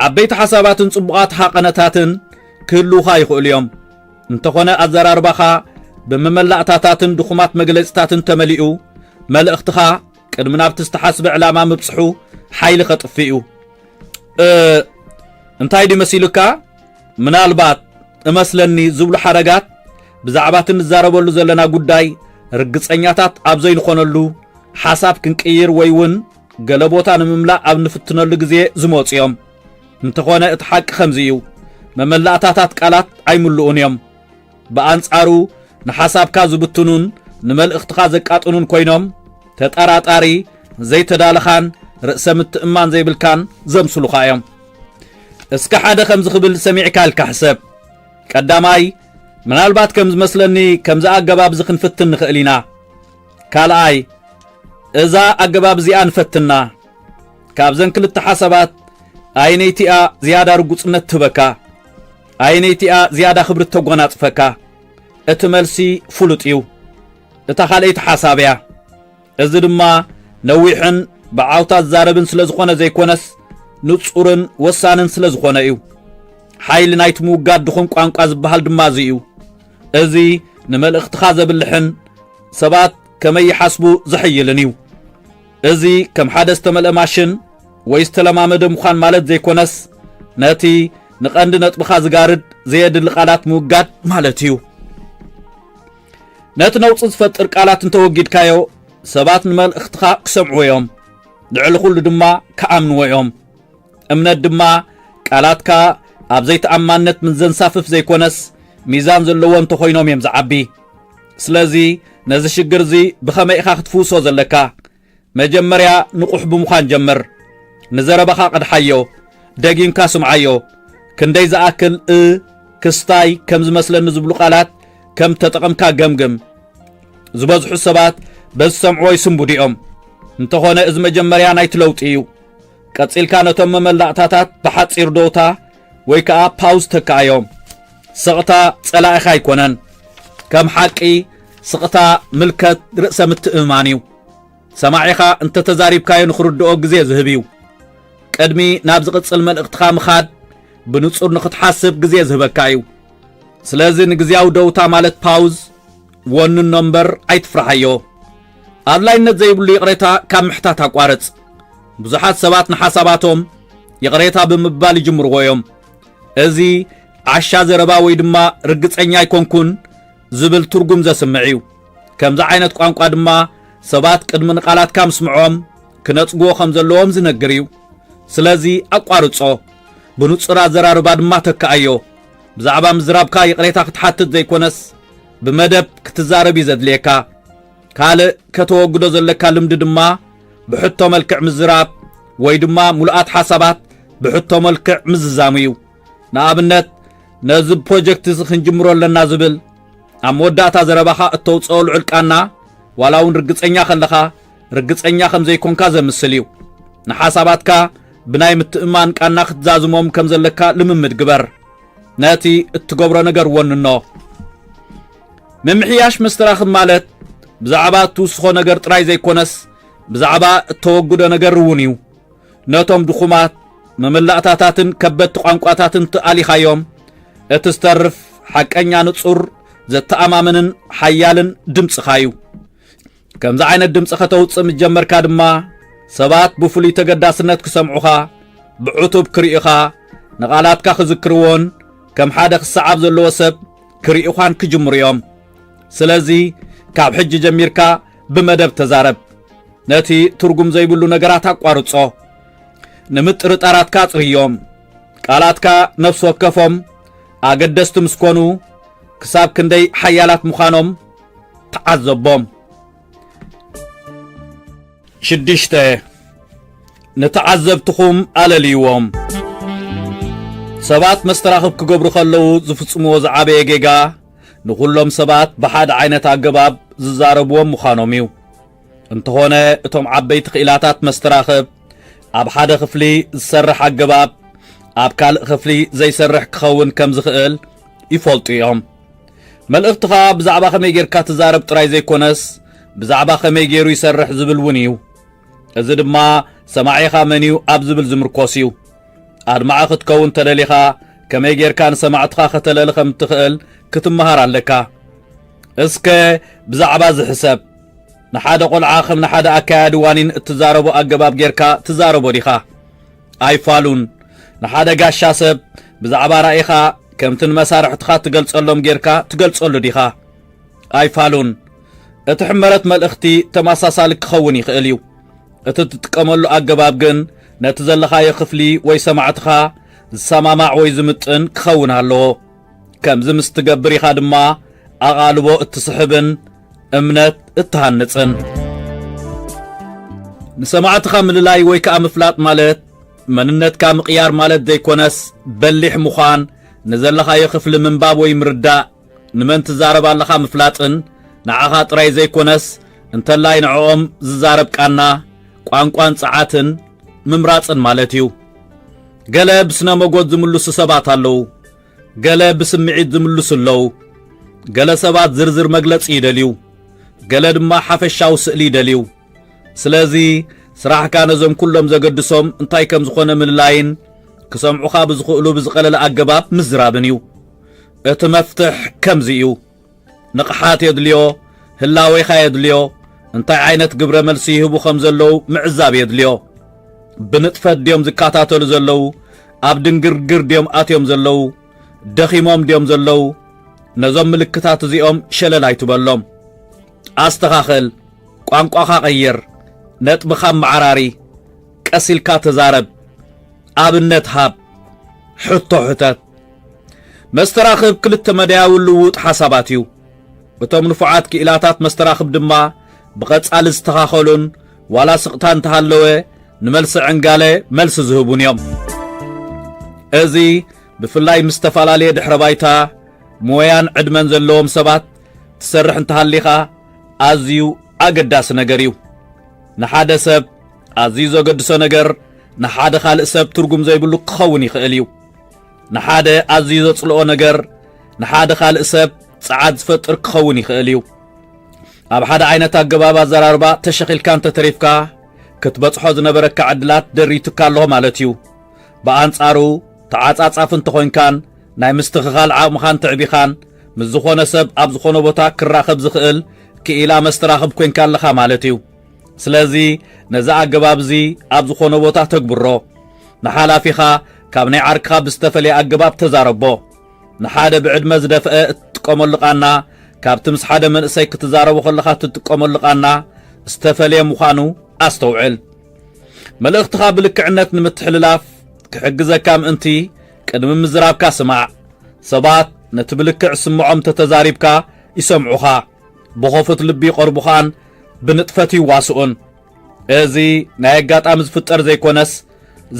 [SPEAKER 1] ዓበይቲ ሓሳባትን ጽቡቓት ሃቐነታትን ክህልውኻ ይኽእሉ እዮም። እንተኾነ ኣዘራርባኻ ብመመላእታታትን ድኹማት መግለጽታትን ተመሊኡ መልእኽትኻ ቅድሚ ናብቲ ዝተሓስበ ዕላማ ምብጽሑ ሓይሊ ከጥፍእ እዩ እንታይ ድዩ መሲሉካ ምናልባት እመስለኒ ዝብሉ ሓረጋት ብዛዕባ እቲ ንዛረበሉ ዘለና ጉዳይ ርግጸኛታት ኣብ ዘይንኾነሉ ሓሳብ ክንቅይር ወይ እውን ገለ ቦታ ንምምላእ ኣብ ንፍትነሉ ግዜ ዝመፁ እዮም እንተኾነ እቲ ሓቂ ከምዚ እዩ መመላእታታት ቃላት ኣይምልኡን እዮም ብኣንጻሩ ንሓሳብካ ዝብትኑን ንመልእኽትኻ ዘቃጥኑን ኮይኖም ተጠራጣሪ ዘይተዳለኻን ርእሰ ምትእማን ዘይብልካን ዘምስሉኻ እዮም እስከ ሓደ ከምዚ ክብል ሰሚዕካ ኢልካ ሕሰብ ቀዳማይ ምናልባት ከም ዝመስለኒ ከምዚ ኣገባብ እዚ ክንፍትን ንኽእል ኢና ካልኣይ እዛ ኣገባብ እዚኣ ንፈትና ካብዘን ክልተ ሓሳባት ኣይነይቲኣ ዝያዳ ርጉጽነት ትህበካ ኣየነይቲ'ያ ዝያዳ ክብሪ እተጐናጽፈካ? እቲ መልሲ ፍሉጥ እዩ፣ እታ ኻልኣይቲ ሓሳብ እያ። እዚ ድማ ነዊሕን ብዓውታ ዝዛረብን ስለ ዝዀነ ዘይኰነስ፣ ንጹርን ወሳንን ስለ ዝዀነ እዩ። ሓይሊ ናይቲ ምውጋድ ድኹም ቋንቋ ዝበሃል ድማ እዚ እዩ። እዚ ንመልእኽትኻ ዘብልሕን ሰባት ከመይ ይሓስቡ ዘሐይልን እዩ። እዚ ከም ሓደ ዝተመልአ ማሽን ወይ ዝተለማመደ ምዃን ማለት ዘይኮነስ ነቲ ንቐንዲ ነጥብኻ ዝጋርድ ዘየድሊ ቃላት ምውጋድ ማለት እዩ። ነቲ ነውፂ ዝፈጥር ቃላት እንተወጊድካዮ ሰባት ንመልእኽትኻ ክሰምዕዎ እዮም፣ ልዕሊ ኩሉ ድማ ክኣምንዎ እዮም። እምነት ድማ ቃላትካ ኣብ ዘይተኣማንነት ምስ ዘንሳፍፍ ዘይኮነስ ሚዛን ዘለዎ እንተኾይኖም እዮም ዝዓቢ። ስለዚ ነዚ ሽግር እዚ ብኸመይ ኢኻ ክትፍውሶ ዘለካ? መጀመርያ ንቑሕ ብምዃን ጀምር። ንዘረባኻ ቅድሓዮ፣ ደጊምካ ስምዓዮ። ክንደይ ዝኣክል እ ክስታይ ከም ዝመስለኒ ዝብሉ ቃላት ከም እተጠቐምካ ገምግም። ዝበዝሑ ሰባት በዚ ዝሰምዕዎ ይስንብዱ እዮም። እንተኾነ እዚ መጀመርያ ናይቲ ለውጢ እዩ። ቀጺልካ ነቶም መመላእታታት ብሓጺር ደውታ ወይ ከዓ ፓውዝ ተካኣዮም። ስቕታ ጸላኢኻ ኣይኮነን። ከም ሓቂ ስቕታ ምልከት ርእሰ ምትእምማን እዩ። ሰማዒኻ እንተ ተዛሪብካዮ ንኽርድኦ ግዜ ዝህብ እዩ። ቅድሚ ናብ ዝቕጽል መልእኽትኻ ምኻድ ብንጹር ንኽትሓስብ ግዜ ዝህበካ እዩ። ስለዚ ንግዜያዊ ደውታ ማለት ፓውዝ ወንኖ እምበር ኣይትፍርሓዮ። ኣድላይነት ዘይብሉ ይቕሬታ ካብ ምሕታት ኣቋርጽ። ብዙሓት ሰባት ንሓሳባቶም ይቕሬታ ብምባል ይጅምርዎ እዮም። እዚ ዓሻ ዘረባ ወይ ድማ ርግጸኛ ኣይኮንኩን ዝብል ትርጉም ዘስምዕ እዩ። ከምዚ ዓይነት ቋንቋ ድማ ሰባት ቅድሚ ንቓላትካ ምስምዖም ክነጽግዎ ከም ዘለዎም ዝነግር እዩ። ስለዚ ኣቋርጾ፣ ብንጹር ኣዘራርባ ድማ ተክኣዮ። ብዛዕባ ምዝራብካ ይቕሬታ ክትሓትት ዘይኮነስ ብመደብ ክትዛረብ እዩ ዘድልየካ። ካልእ ከተወግዶ ዘለካ ልምዲ ድማ ብሕቶ መልክዕ ምዝራብ ወይ ድማ ሙሉኣት ሓሳባት ብሕቶ መልክዕ ምዝዛሙ እዩ ንኣብነት ነዚ ፕሮጀክት እዚ ክንጅምሮ ኣለና ዝብል ኣብ መወዳእታ ዘረባኻ እተውፅኦ ልዑል ቃና ዋላ እውን ርግፀኛ ከለኻ ርግፀኛ ከም ዘይኮንካ ዘምስል እዩ ንሓሳባትካ ብናይ ምትእማን ቃና ክትዛዝሞም ከም ዘለካ ልምምድ ግበር ነቲ እትገብሮ ነገር ወንኖ ምምሕያሽ መስተራኽብ ማለት ብዛዕባ እትውስኾ ነገር ጥራይ ዘይኮነስ ብዛዕባ እተወግዶ ነገር እውን እዩ ነቶም ድኹማት መመላእታታትን ከበድቲ ቋንቋታትን ትኣሊኻዮም እቲ ዝተርፍ ሓቀኛ ንጹር ዘተኣማምንን ሓያልን ድምፅኻ እዩ ከምዚ ዓይነት ድምፂ ከተውፅእ ምስ ጀመርካ ድማ ሰባት ብፍሉይ ተገዳስነት ክሰምዑኻ ብዕቱብ ክርእዩኻ ንቓላትካ ክዝክርዎን ከም ሓደ ክሰዓብ ዘለዎ ሰብ ክርእዩኻን ክጅምሩ እዮም ስለዚ ካብ ሕጂ ጀሚርካ ብመደብ ተዛረብ ነቲ ትርጉም ዘይብሉ ነገራት ኣቋርጾ ንምጥርጣራትካ ኣጽርዮም ቃላትካ ነፍሲ ወከፎም ኣገደስቲ ምስ ኮኑ ክሳብ ክንደይ ሓያላት ምዃኖም ተዓዘቦ። ሽዱሽተ፣ ንተዓዘብትኹም ኣለልይዎም። ሰባት መስተራኽብ ክገብሩ ከለዉ ዝፍጽምዎ ዝዓበየ ጌጋ ንዅሎም ሰባት ብሓደ ዓይነት ኣገባብ ዝዛረብዎም ምዃኖም እዩ። እንተዀነ እቶም ዓበይቲ ክኢላታት መስተራኽብ ኣብ ሓደ ክፍሊ ዝሰርሕ ኣገባብ ኣብ ካልእ ክፍሊ ዘይሰርሕ ክኸውን ከም ዝኽእል ይፈልጡ እዮም። መልእኽትኻ ብዛዕባ ከመይ ጌርካ ትዛረብ ጥራይ ዘይኮነስ ብዛዕባ ከመይ ገይሩ ይሰርሕ ዝብል እውን እዩ እዚ ድማ ሰማዒኻ መን እዩ ኣብ ዝብል ዝምርኮስ እዩ ኣድማዒ ክትከውን ተደሊኻ ከመይ ጌርካ ንሰማዕትኻ ከተለሊ ከም እትኽእል ክትመሃር ኣለካ እስከ ብዛዕባ ዝሕሰብ ንሓደ ቆልዓ ከም ንሓደ ኣካያዲ ዋኒን እትዛረቦ ኣገባብ ጌርካ ትዛረቦ ዲኻ ኣይፋሉን። ንሓደ ጋሻ ሰብ ብዛዕባ ራኢኻ ከምቲ ንመሳርሕትኻ እትገልጸሎም ጌርካ ትገልጸሉ ዲኻ? ኣይፋሉን። እቲ ሕመረት መልእኽቲ ተመሳሳሊ ክኸውን ይኽእል እዩ። እቲ እትጥቀመሉ ኣገባብ ግን ነቲ ዘለኻዮ ክፍሊ ወይ ሰማዕትኻ ዝሰማማዕ ወይ ዝምጥን ክኸውን ኣለዎ። ከምዚ ምስ ትገብር ኢኻ ድማ ኣቓልቦ እትስሕብን እምነት እትሃንጽን። ንሰማዕትኻ ምልላይ ወይ ከዓ ምፍላጥ ማለት መንነትካ ምቕያር ማለት ዘይኮነስ በሊሕ ምዃን፣ ንዘለኻዮ ክፍሊ ምንባብ ወይ ምርዳእ፣ ንመን ትዛረብ ኣለኻ ምፍላጥን ንዓኻ ጥራይ ዘይኮነስ እንተላይ ንዕኦም ዝዛረብ ቃና፣ ቋንቋን ጸዓትን ምምራጽን ማለት እዩ። ገለ ብስነ መጎት ዝምልሱ ሰባት ኣለዉ፣ ገለ ብስምዒት ዝምልሱ ኣለዉ፣ ገለ ሰባት ዝርዝር መግለጺ ይደልዩ፣ ገለ ድማ ሓፈሻዊ ስእሊ ይደልዩ። ስለዚ ስራሕካ ነዞም ኩሎም ዘገድሶም እንታይ ከም ዝኾነ ምልላይን ክሰምዑኻ ብዝኽእሉ ብዝቐለለ ኣገባብ ምዝራብን እዩ። እቲ መፍትሕ ከምዚ እዩ። ንቕሓት የድልዮ፣ ህላዌኻ የድልዮ፣ እንታይ ዓይነት ግብረ መልሲ ይህቡ ከም ዘለዉ ምዕዛብ የድልዮ። ብንጥፈት ድዮም ዝከታተሉ ዘለዉ? ኣብ ድንግርግር ድዮም ኣትዮም ዘለዉ? ደኺሞም ድዮም ዘለዉ? ነዞም ምልክታት እዚኦም ሸለል ኣይትበሎም። ኣስተኻኸል፣ ቋንቋኻ ቀይር፣ ነጥብኻ ኣመዓራሪ፣ ቀስ ኢልካ ተዛረብ፣ ኣብነት ሃብ፣ ሕቶ ሕተት። መስተራኽብ ክልተ መዳያዊ ልውውጥ ሓሳባት እዩ። እቶም ንፉዓት ክኢላታት መስተራኽብ ድማ ብቐጻሊ ዝተኻኸሉን ዋላ ስቕታ እንተሃለወ ንመልሲ ዕንጋለ መልሲ ዝህቡን እዮም። እዚ ብፍላይ ምስ ዝተፈላለየ ድሕረ ባይታ ሞያን ዕድመን ዘለዎም ሰባት ትሰርሕ እንተሃሊኻ ኣዝዩ ኣገዳሲ ነገር እዩ። ንሓደ ሰብ ኣዝዩ ዘገድሶ ነገር ንሓደ ካልእ ሰብ ትርጉም ዘይብሉ ክኸውን ይኽእል እዩ። ንሓደ ኣዝዩ ዘጽልኦ ነገር ንሓደ ካልእ ሰብ ጸዓት ዝፈጥር ክኸውን ይኽእል እዩ ኣብ ሓደ ዓይነት ኣገባብ ኣዘራርባ ተሸኺልካ እንተተሪፍካ ክትበጽሖ ዝነበረካ ዕድላት ደሪቱካ ኣለኹ ማለት እዩ ብኣንጻሩ ተዓጻጻፍ እንተኾይንካን ናይ ምስትኽኻል ዓቕምኻን ትዕቢኻን ምስ ዝኾነ ሰብ ኣብ ዝኾነ ቦታ ክራኸብ ዝኽእል ክኢላ መስተራኽብ ኮንካ ኣለኻ ማለት እዩ ስለዚ ነዚ ኣገባብ እዚ ኣብ ዝኾነ ቦታ ተግብሮ ንሓላፊኻ ካብ ናይ ዓርክኻ ብዝተፈለየ ኣገባብ ተዛረቦ። ንሓደ ብዕድመ ዝደፍአ እትጥቀመሉ ቓና ካብቲ ምስ ሓደ መንእሰይ ክትዛረቦ ከለኻ እትጥቀመሉ ቓና ዝተፈለየ ምዃኑ ኣስተውዕል። መልእኽትኻ ብልክዕነት ንምትሕልላፍ ክሕግዘካ ምእንቲ ቅድሚ ምዝራብካ ስማዕ። ሰባት ነቲ ብልክዕ ስምዖም እንተ ተዛሪብካ ይሰምዑኻ፣ ብኸፉት ልቢ ይቐርቡኻን ብንጥፈት ይዋስኡን። እዚ ናይ ኣጋጣሚ ዝፍጠር ዘይኮነስ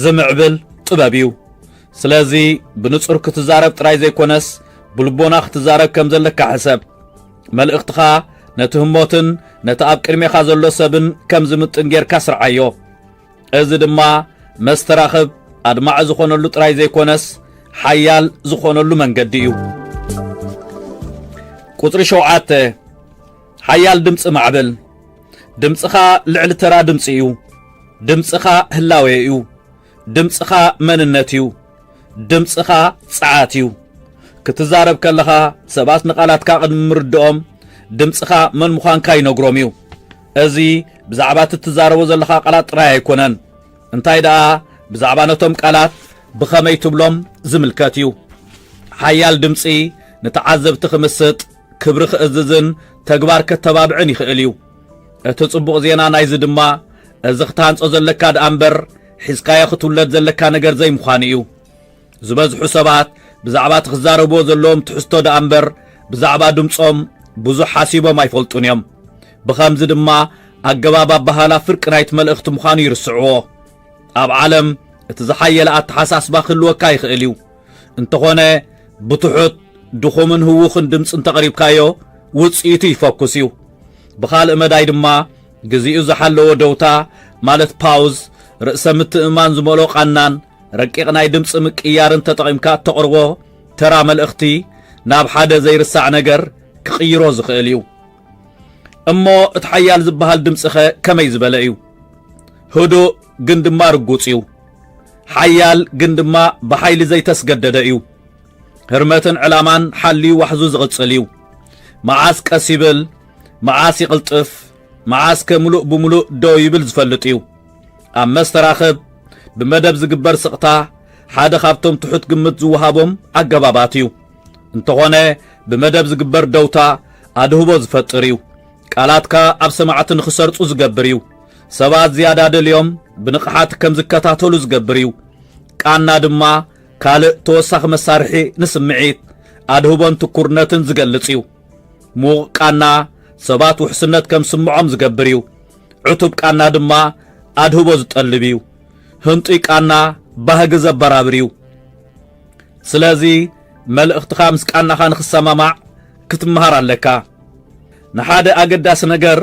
[SPEAKER 1] ዝምዕብል ጥበብ እዩ። ስለዚ ብንጹር ክትዛረብ ጥራይ ዘይኮነስ ብልቦና ክትዛረብ ከም ዘለካ ሕሰብ። መልእኽትኻ ነቲ ህሞትን ነቲ ኣብ ቅድሜኻ ዘሎ ሰብን ከም ዝምጥን ጌርካ ስርዓዮ። እዚ ድማ መስተራኽብ ኣድማዒ ዝኾነሉ ጥራይ ዘይኮነስ ሓያል ዝኾነሉ መንገዲ እዩ። ቁጽሪ ሸውዓተ ሓያል ድምጺ ማዕበል ድምጽኻ ልዕሊ ተራ ድምጺ እዩ ድምጽኻ ህላዌ እዩ ድምጽኻ መንነት እዩ ድምጽኻ ጸዓት እዩ ክትዛረብ ከለኻ ሰባት ንቓላትካ ቅድሚ ምርድኦም ድምጽኻ መን ምዃንካ ይነግሮም እዩ እዚ ብዛዕባ እቲ እትዛረቦ ዘለኻ ቃላት ጥራይ ኣይኮነን እንታይ ደኣ ብዛዕባ ነቶም ቃላት ብኸመይ ትብሎም ዝምልከት እዩ ሓያል ድምፂ ንተዓዘብቲ ክምስጥ ክብሪ ክእዝዝን ተግባር ከተባብዕን ይኽእል እዩ። እቲ ጽቡቕ ዜና ናይዚ ድማ እዚ ክታሃንጾ ዘለካ ደኣ እምበር ሒዝካዮ ክትውለድ ዘለካ ነገር ዘይምዃኑ እዩ። ዝበዝሑ ሰባት ብዛዕባ እቲ ክዛረብዎ ዘለዎም ትሕዝቶ ደኣ እምበር ብዛዕባ ድምጾም ብዙሕ ሓሲቦም ኣይፈልጡን እዮም። ብኸምዚ ድማ ኣገባብ ኣበሃህላ ፍርቂ ናይቲ መልእኽቲ ምዃኑ ይርስዕዎ። ኣብ ዓለም እቲ ዝሓየለ ኣተሓሳስባ ክህልወካ ይኽእል እዩ። እንተኾነ ብትሑት ድኹምን ህውኽን ድምፂ እንተቕሪብካዮ ውፅኢቱ ይፈኩስ እዩ። ብኻልእ መዳይ ድማ ግዚኡ ዝሓለዎ ደውታ ማለት ፓውዝ፣ ርእሰ ምትእምማን ዝመልኦ ቃናን ረቂቕ ናይ ድምፂ ምቅያርን ተጠቒምካ እተቕርቦ ተራ መልእኽቲ ናብ ሓደ ዘይርሳዕ ነገር ክቕይሮ ዝኽእል እዩ። እሞ እቲ ሓያል ዝበሃል ድምፂኸ ከመይ ዝበለ እዩ? ህዱእ ግን ድማ ርጉፅ እዩ። ሓያል ግን ድማ ብሓይሊ ዘይተስገደደ እዩ። ህርመትን ዕላማን ሓልዩ ዋሕዙ ዝቕጽል እዩ። መዓስ ቀስ ይብል፣ መዓስ ይቕልጥፍ፣ መዓስ ከ ምሉእ ብምሉእ ደው ይብል ዝፈልጥ እዩ። ኣብ መስተራኽብ ብመደብ ዝግበር ስቕታ ሓደ ካብቶም ትሑት ግምት ዝወሃቦም ኣገባባት እዩ። እንተኾነ ብመደብ ዝግበር ደውታ ኣድህቦ ዝፈጥር እዩ። ቃላትካ ኣብ ሰማዕቲ ንኽሰርጹ ዝገብር እዩ። ሰባት ዝያዳ ደልዮም ብንቕሓት ከም ዝከታተሉ ዝገብር እዩ። ቃና ድማ ካልእ ተወሳኺ መሳርሒ ንስምዒት፣ ኣድህቦን ትኩርነትን ዝገልጽ እዩ። ምዉቕ ቃና ሰባት ውሕስነት ከም ዝስምዖም ዝገብር እዩ። ዕቱብ ቃና ድማ ኣድህቦ ዝጠልብ እዩ። ህንጡይ ቃና ባህጊ ዘበራብር እዩ። ስለዚ መልእኽትኻ ምስ ቃናኻ ንኽሰማማዕ ክትመሃር ኣለካ። ንሓደ ኣገዳሲ ነገር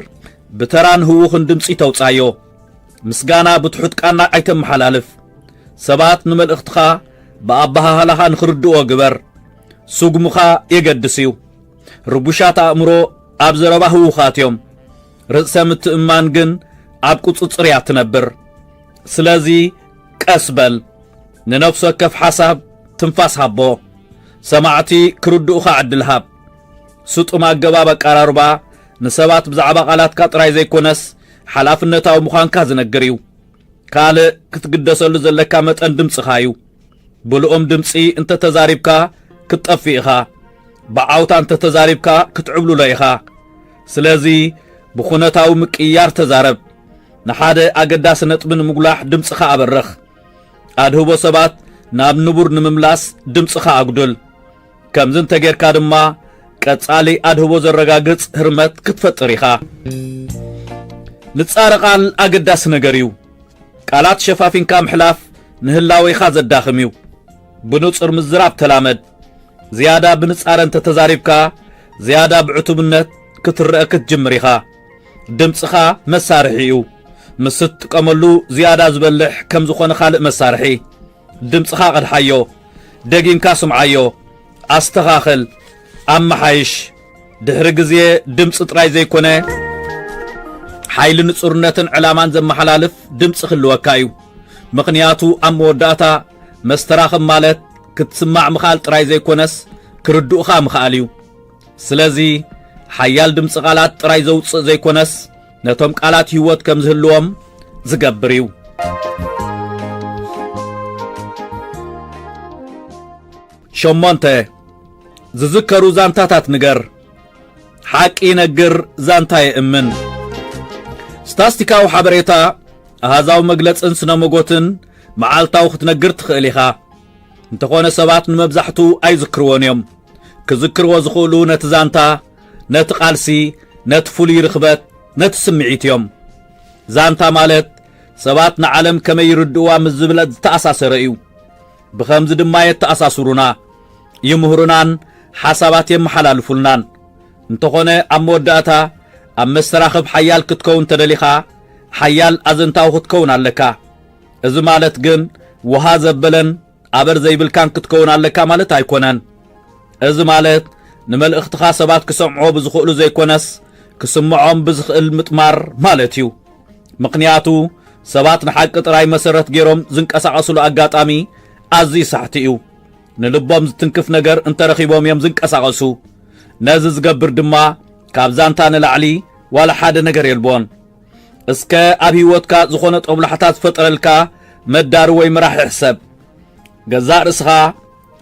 [SPEAKER 1] ብተራን ህዉኽን ድምጺ ተውጻዮ። ምስጋና ብትሑት ቃና ኣይተመሓላልፍ። ሰባት ንመልእኽትኻ ብኣበሃህላኻ ንኽርድእዎ ግበር። ስጉምኻ የገድስ እዩ። ርጉሻት ኣእምሮ ኣብ ዘረባ ህዉኻት እዮም። ርእሰ ምትእምማን ግን ኣብ ቁጽጽር እያ እትነብር። ስለዚ ቀስ በል። ንነፍሲ ወከፍ ሓሳብ ትንፋስ ሃቦ። ሰማዕቲ ክርድኡኻ ዕድል ሃብ። ስጡም ኣገባብ ኣቀራርባ ንሰባት ብዛዕባ ቓላትካ ጥራይ ዘይኰነስ ሓላፍነታዊ ምዃንካ ዝነግር እዩ። ካልእ ክትግደሰሉ ዘለካ መጠን ድምጽኻ እዩ። ብልኡም ድምጺ እንተ ተዛሪብካ ክትጠፍእ ኢኻ። ብዓውታ እንተ ተዛሪብካ ክትዕብልሎ ኢኻ። ስለዚ ብዅነታዊ ምቅይያር ተዛረብ። ንሓደ ኣገዳሲ ነጥቢ ንምጕላሕ ድምጽኻ ኣበርኽ። ኣድህቦ ሰባት ናብ ንቡር ንምምላስ ድምጽኻ ኣጉድል። ከምዚ እንተጌርካ ድማ ቀጻሊ ኣድህቦ ዘረጋግጽ ህርመት ክትፈጥር ኢኻ። ንጻረ ቃል ኣገዳሲ ነገር እዩ። ቃላት ሸፋፊንካ ምሕላፍ ንህላዌኻ ዘዳኽም እዩ። ብንጹር ምዝራብ ተላመድ። ዝያዳ ብንጻረ እንተተዛሪብካ ዝያዳ ብዕቱብነት ክትረኣ ክትጅምር ኢኻ። ድምጽኻ መሳርሒ እዩ። ምስ እትጥቀመሉ ዝያዳ ዝበልሕ ከም ዝኾነ ካልእ መሳርሒ። ድምጽኻ ቐድሓዮ። ደጊምካ ስምዓዮ። ኣስተኻኽል። ኣመሓይሽ። ድሕሪ ግዜ ድምጺ ጥራይ ዘይኮነ ሓይሊ ንጹርነትን ዕላማን ዘመሓላልፍ ድምጺ ክህልወካ እዩ። ምኽንያቱ ኣብ መወዳእታ መስተራኽብ ማለት ክትስማዕ ምኽኣል ጥራይ ዘይኮነስ ክርድኡኻ ምኽኣል እዩ። ስለዚ ሓያል ድምፂ ቃላት ጥራይ ዘውፅእ ዘይኮነስ ነቶም ቃላት ህይወት ከም ዝህልዎም ዝገብር እዩ ሸሞንተ ዝዝከሩ ዛንታታት ንገር ሓቂ ይነግር ዛንታ የእምን ስታስቲካዊ ሓበሬታ ኣሃዛዊ መግለፅን ስነ መጎትን መዓልታዊ ክትነግር ትኽእል ኢኻ እንተኾነ ሰባት ንመብዛሕቱ ኣይዝክርዎን እዮም ክዝክርዎ ዝኽእሉ ነቲ ዛንታ፣ ነቲ ቃልሲ፣ ነቲ ፍሉይ ርኽበት፣ ነቲ ስምዒት እዮም። ዛንታ ማለት ሰባት ንዓለም ከመይ ይርድእዋ ምስ ዝብለ ዝተኣሳሰረ እዩ። ብኸምዚ ድማ የተኣሳስሩና፣ ይምህሩናን ሓሳባት የመሓላልፉልናን። እንተኾነ ኣብ መወዳእታ ኣብ መሰራኽብ ሓያል ክትከውን ተደሊኻ ሓያል ኣዘንታዊ ክትከውን ኣለካ። እዚ ማለት ግን ውሃ ዘበለን ኣበር ዘይብልካን ክትከውን ኣለካ ማለት ኣይኮነን። እዚ ማለት ንመልእኽትኻ ሰባት ክሰምዕዎ ብዝኽእሉ ዘይኮነስ ክስምዖም ብዝኽእል ምጥማር ማለት እዩ። ምኽንያቱ ሰባት ንሓቂ ጥራይ መሰረት ገይሮም ዝንቀሳቐስሉ ኣጋጣሚ ኣዝዩ ሳሕቲ እዩ። ንልቦም ዝትንክፍ ነገር እንተረኺቦም እዮም ዝንቀሳቐሱ። ነዚ ዝገብር ድማ ካብ ዛንታ ንላዕሊ ዋላ ሓደ ነገር የልቦን። እስከ ኣብ ህይወትካ ዝኾነ ጦብላሕታ ዝፈጠረልካ መዳሪ ወይ መራሒ ሕሰብ። ገዛእ ርእስኻ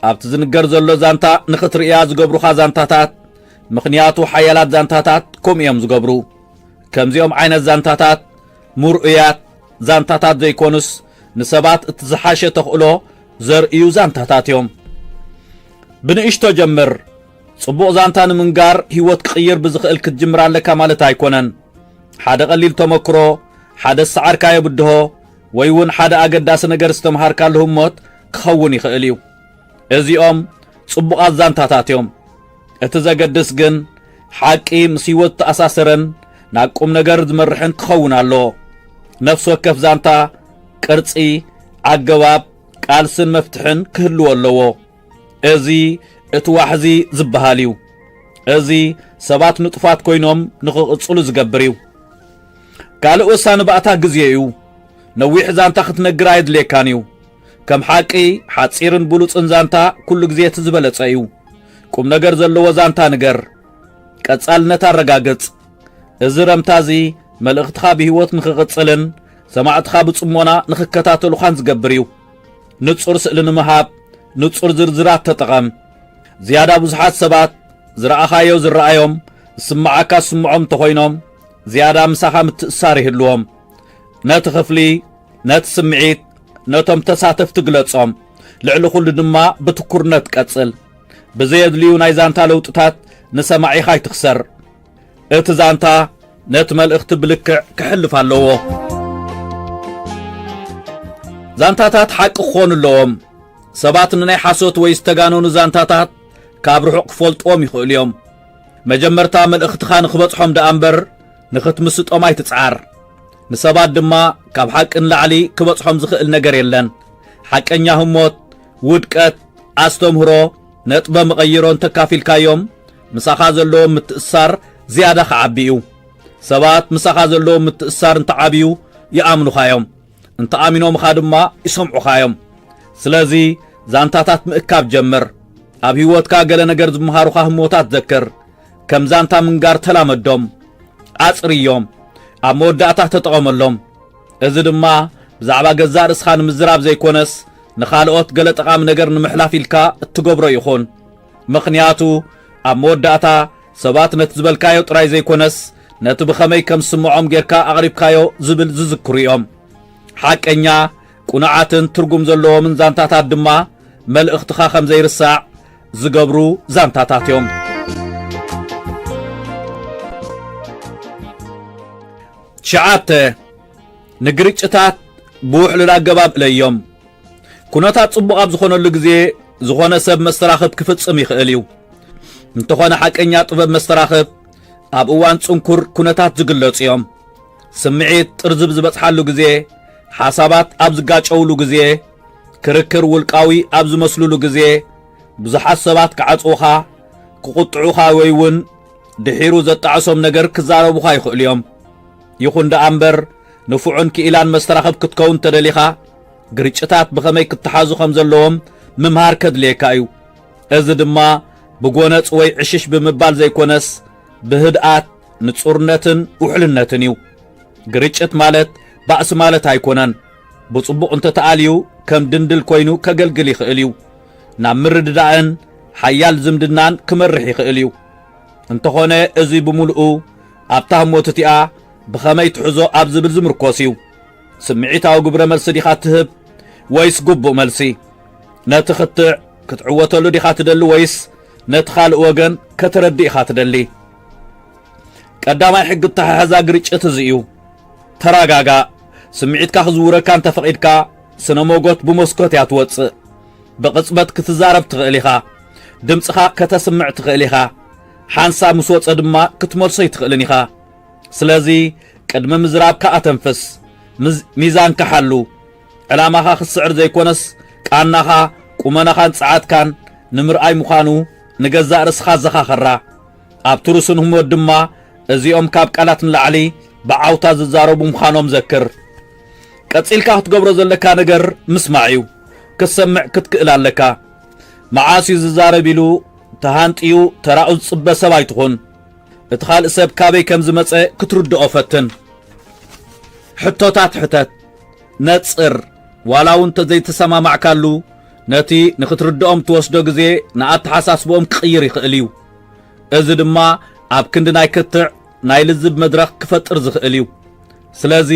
[SPEAKER 1] ኣብቲ ዝንገር ዘሎ ዛንታ ንኽትርእያ ዝገብሩኻ ዛንታታት ምኽንያቱ ሓያላት ዛንታታት ከምኡ እዮም ዝገብሩ። ከምዚኦም ዓይነት ዛንታታት ምርኡያት ዛንታታት ዘይኮኑስ ንሰባት እቲ ዝሓሸ ተኽእሎ ዘርእዩ ዛንታታት እዮም። ብንእሽቶ ጀምር። ጽቡቕ ዛንታ ንምንጋር ህይወት ክቕይር ብዝኽእል ክትጅምር ኣለካ ማለት ኣይኮነን። ሓደ ቀሊል ተመክሮ፣ ሓደ ዝሰዓርካዮ ብድሆ፣ ወይ እውን ሓደ ኣገዳሲ ነገር ዝተምሃርካሉ ህሞት ክኸውን ይኽእል እዩ። እዚኦም ጽቡቓት ዛንታታት እዮም። እቲ ዘገድስ ግን ሓቂ ምስ ህይወት ዝተኣሳሰረን ናብ ቁም ነገር ዝመርሕን ክኸውን ኣለዎ። ነፍሲ ወከፍ ዛንታ ቅርጺ፣ ኣገባብ፣ ቃልስን መፍትሕን ክህልዎ ኣለዎ። እዚ እቲ ዋሕዚ ዝበሃል እዩ። እዚ ሰባት ንጡፋት ኮይኖም ንኽቕጽሉ ዝገብር እዩ። ካልእ ወሳኒ ባእታ ግዜ እዩ። ነዊሕ ዛንታ ክትነግር ኣየድልየካን እዩ። ከም ሓቂ፣ ሓጺርን ብሉጽን ዛንታ ኩሉ ግዜ እቲ ዝበለጸ እዩ። ቁም ነገር ዘለዎ ዛንታ ንገር። ቀጻልነት ኣረጋግጽ። እዚ ረምታ እዚ መልእኽትኻ ብህይወት ንኽቕጽልን ሰማዕትኻ ብጽሞና ንኽከታተሉኻን ዝገብር እዩ። ንጹር ስእሊ ንምሃብ ንጹር ዝርዝራት ተጠቐም። ዝያዳ ብዙሓት ሰባት ዝረኣኻዮ ዝረኣዮም፣ ዝስምዓካ ዝስምዖም እንተኾይኖም፣ ዝያዳ ምሳኻ ምትእስሳር ይህልዎም። ነቲ ክፍሊ፣ ነቲ ስምዒት፣ ነቶም ተሳተፍቲ ግለጾም። ልዕሊ ኩሉ ድማ ብትኩርነት ቀጽል። ብዘየድልዩ ናይ ዛንታ ለውጥታት ንሰማዒኻ ኣይትኽሰር። እቲ ዛንታ ነቲ መልእኽቲ ብልክዕ ክሕልፍ ኣለዎ። ዛንታታት ሓቂ ክኾኑ ኣለዎም። ሰባት ንናይ ሓሶት ወይ ዝተጋነኑ ዛንታታት ካብ ርሑቕ ክፈልጥዎም ይኽእሉ እዮም። መጀመርታ መልእኽትኻ ንኽበጽሖም ደኣ እምበር ንኽትምስጦም ኣይትጽዓር። ንሰባት ድማ ካብ ሓቂ ንላዕሊ ክበጽሖም ዝኽእል ነገር የለን። ሓቀኛ ህሞት፣ ውድቀት፣ ኣስተምህሮ፣ ነጥበ መቐይሮ እንተ ኣካፊልካዮም፣ ምሳኻ ዘለዎም ምትእስሳር ዝያዳ ኺዓቢ እዩ። ሰባት ምሳኻ ዘለዎም ምትእስሳር እንተ ዓብዩ፣ ይኣምኑኻ እዮም። እንተ ኣሚኖምኻ ድማ ይሰምዑኻ እዮም። ስለዚ፣ ዛንታታት ምእካብ ጀምር። ኣብ ህይወትካ ገለ ነገር ዝመሃሩኻ ህሞታት ዘክር። ከም ዛንታ ምንጋር ተላመዶም። ኣጽርዮም። ኣብ መወዳእታ ተጠቐመሎም። እዚ ድማ ብዛዕባ ገዛእ ርእስኻ ንምዝራብ ዘይኮነስ ንኻልኦት ገለ ጠቓሚ ነገር ንምሕላፍ ኢልካ እትገብሮ ይኹን። ምኽንያቱ ኣብ መወዳእታ ሰባት ነቲ ዝበልካዮ ጥራይ ዘይኮነስ ነቲ ብኸመይ ከም ዝስምዖም ጌርካ ኣቕሪብካዮ ዝብል ዝዝክሩ እዮም። ሓቀኛ፣ ቅኑዓትን ትርጉም ዘለዎምን ዛንታታት ድማ መልእኽትኻ ከም ዘይርሳዕ ዝገብሩ ዛንታታት እዮም። ሸዓተ ንግርጭታት ብውሕሉል ኣገባብ እለዮም። ኩነታት ጽቡቕ ኣብ ዝኾነሉ ግዜ ዝኾነ ሰብ መስተራኽብ ክፍጽም ይኽእል እዩ። እንተኾነ ሓቀኛ ጥበብ መስተራኽብ ኣብ እዋን ጽንኩር ኩነታት ዝግለጹ እዮም። ስምዒት ጥርዝብ ዝበጽሓሉ ግዜ፣ ሓሳባት ኣብ ዝጋጨውሉ ግዜ፣ ክርክር ውልቃዊ ኣብ ዝመስሉሉ ግዜ ብዙሓት ሰባት ክዓጽዉኻ፣ ክቝጥዑኻ ወይ እውን ድሒሩ ዘጣዕሶም ነገር ክዛረቡኻ ይኽእሉ እዮም። ይኹን ደኣ እምበር፣ ንፉዕን ክኢላን መስተራኽብ ክትከውን እንተደሊኻ፣ ግርጭታት ብኸመይ ክተሓዙ ከም ዘለዎም ምምሃር ከድልየካ እዩ። እዚ ድማ ብጐነጽ ወይ ዕሽሽ ብምባል ዘይኰነስ፣ ብህድኣት፣ ንጹርነትን ውሕልነትን እዩ። ግርጭት ማለት ባእሲ ማለት ኣይኰነን። ብጽቡቕ እንተ ተኣልዩ ከም ድንድል ኮይኑ ከገልግል ይኽእል እዩ። ናብ ምርድዳእን ሓያል ዝምድናን ክመርሕ ይኽእል እዩ። እንተኾነ እዚ ብምሉኡ ኣብታ ህሞት እቲኣ ብኸመይ ትሕዞ ኣብ ዝብል ዝምርኮስ እዩ። ስምዒታዊ ግብረ መልሲ ዲኻ እትህብ ወይስ ግቡእ መልሲ? ነቲ ክትዕ ክትዕወተሉ ዲኻ ትደሊ ወይስ ነቲ ካልእ ወገን ከተረድእ ኢኻ ትደሊ? ቀዳማይ ሕጊ እተሓሕዛ ግርጭት እዚ እዩ። ተራጋጋእ ስምዒትካ ክዝውረካ እንተ ፈቂድካ ስነ ሞጎት ብሞስኮት እያ ትወጽእ ብቅጽበት ክትዛረብ ትክእል ኢካ ድምጽካ ከተስምዕ ትክእል ኢካ ሓንሳብ ምስ ወጸ ድማ ክትመልሶ ኣይትክእልን ኢካ ስለዚ ቅድሚ ምዝራብካ ኣተንፍስ ሚዛንካ ሓሉ ዕላማካ ክትስዕር ዘይኮነስ ቃናካ ቁመናካን ጸዓትካን ንምርኣይ ምዃኑ ንገዛእ ርእስካ ኣዘኻኸራ ኣብ ትሩስን ህሞት ድማ እዚኦም ካብ ቃላት ንላዕሊ ብዓውታ ዝዛረቡ ምዃኖም ዘክር። ቀጺልካ ክትገብሮ ዘለካ ነገር ምስማዕ እዩ። ክትሰምዕ ክትክእል ኣለካ። መዓስ እዩ ዝዛረብ ኢሉ ተሃንጥዩ ተራኡ ዝጽበ ሰብ ኣይትኹን። እቲ ካልእ ሰብ ካበይ ከም ዝመጸ ክትርድኦ ፈትን። ሕቶታት ሕተት። ነጽር። ዋላ እውን እንተዘይተሰማማዕካሉ፣ ነቲ ንኽትርድኦም እትወስዶ ግዜ ንኣተሓሳስባኦም ክቕይር ይኽእል እዩ። እዚ ድማ ኣብ ክንዲ ናይ ክትዕ ናይ ልዝብ መድረኽ ክፈጥር ዝኽእል እዩ። ስለዚ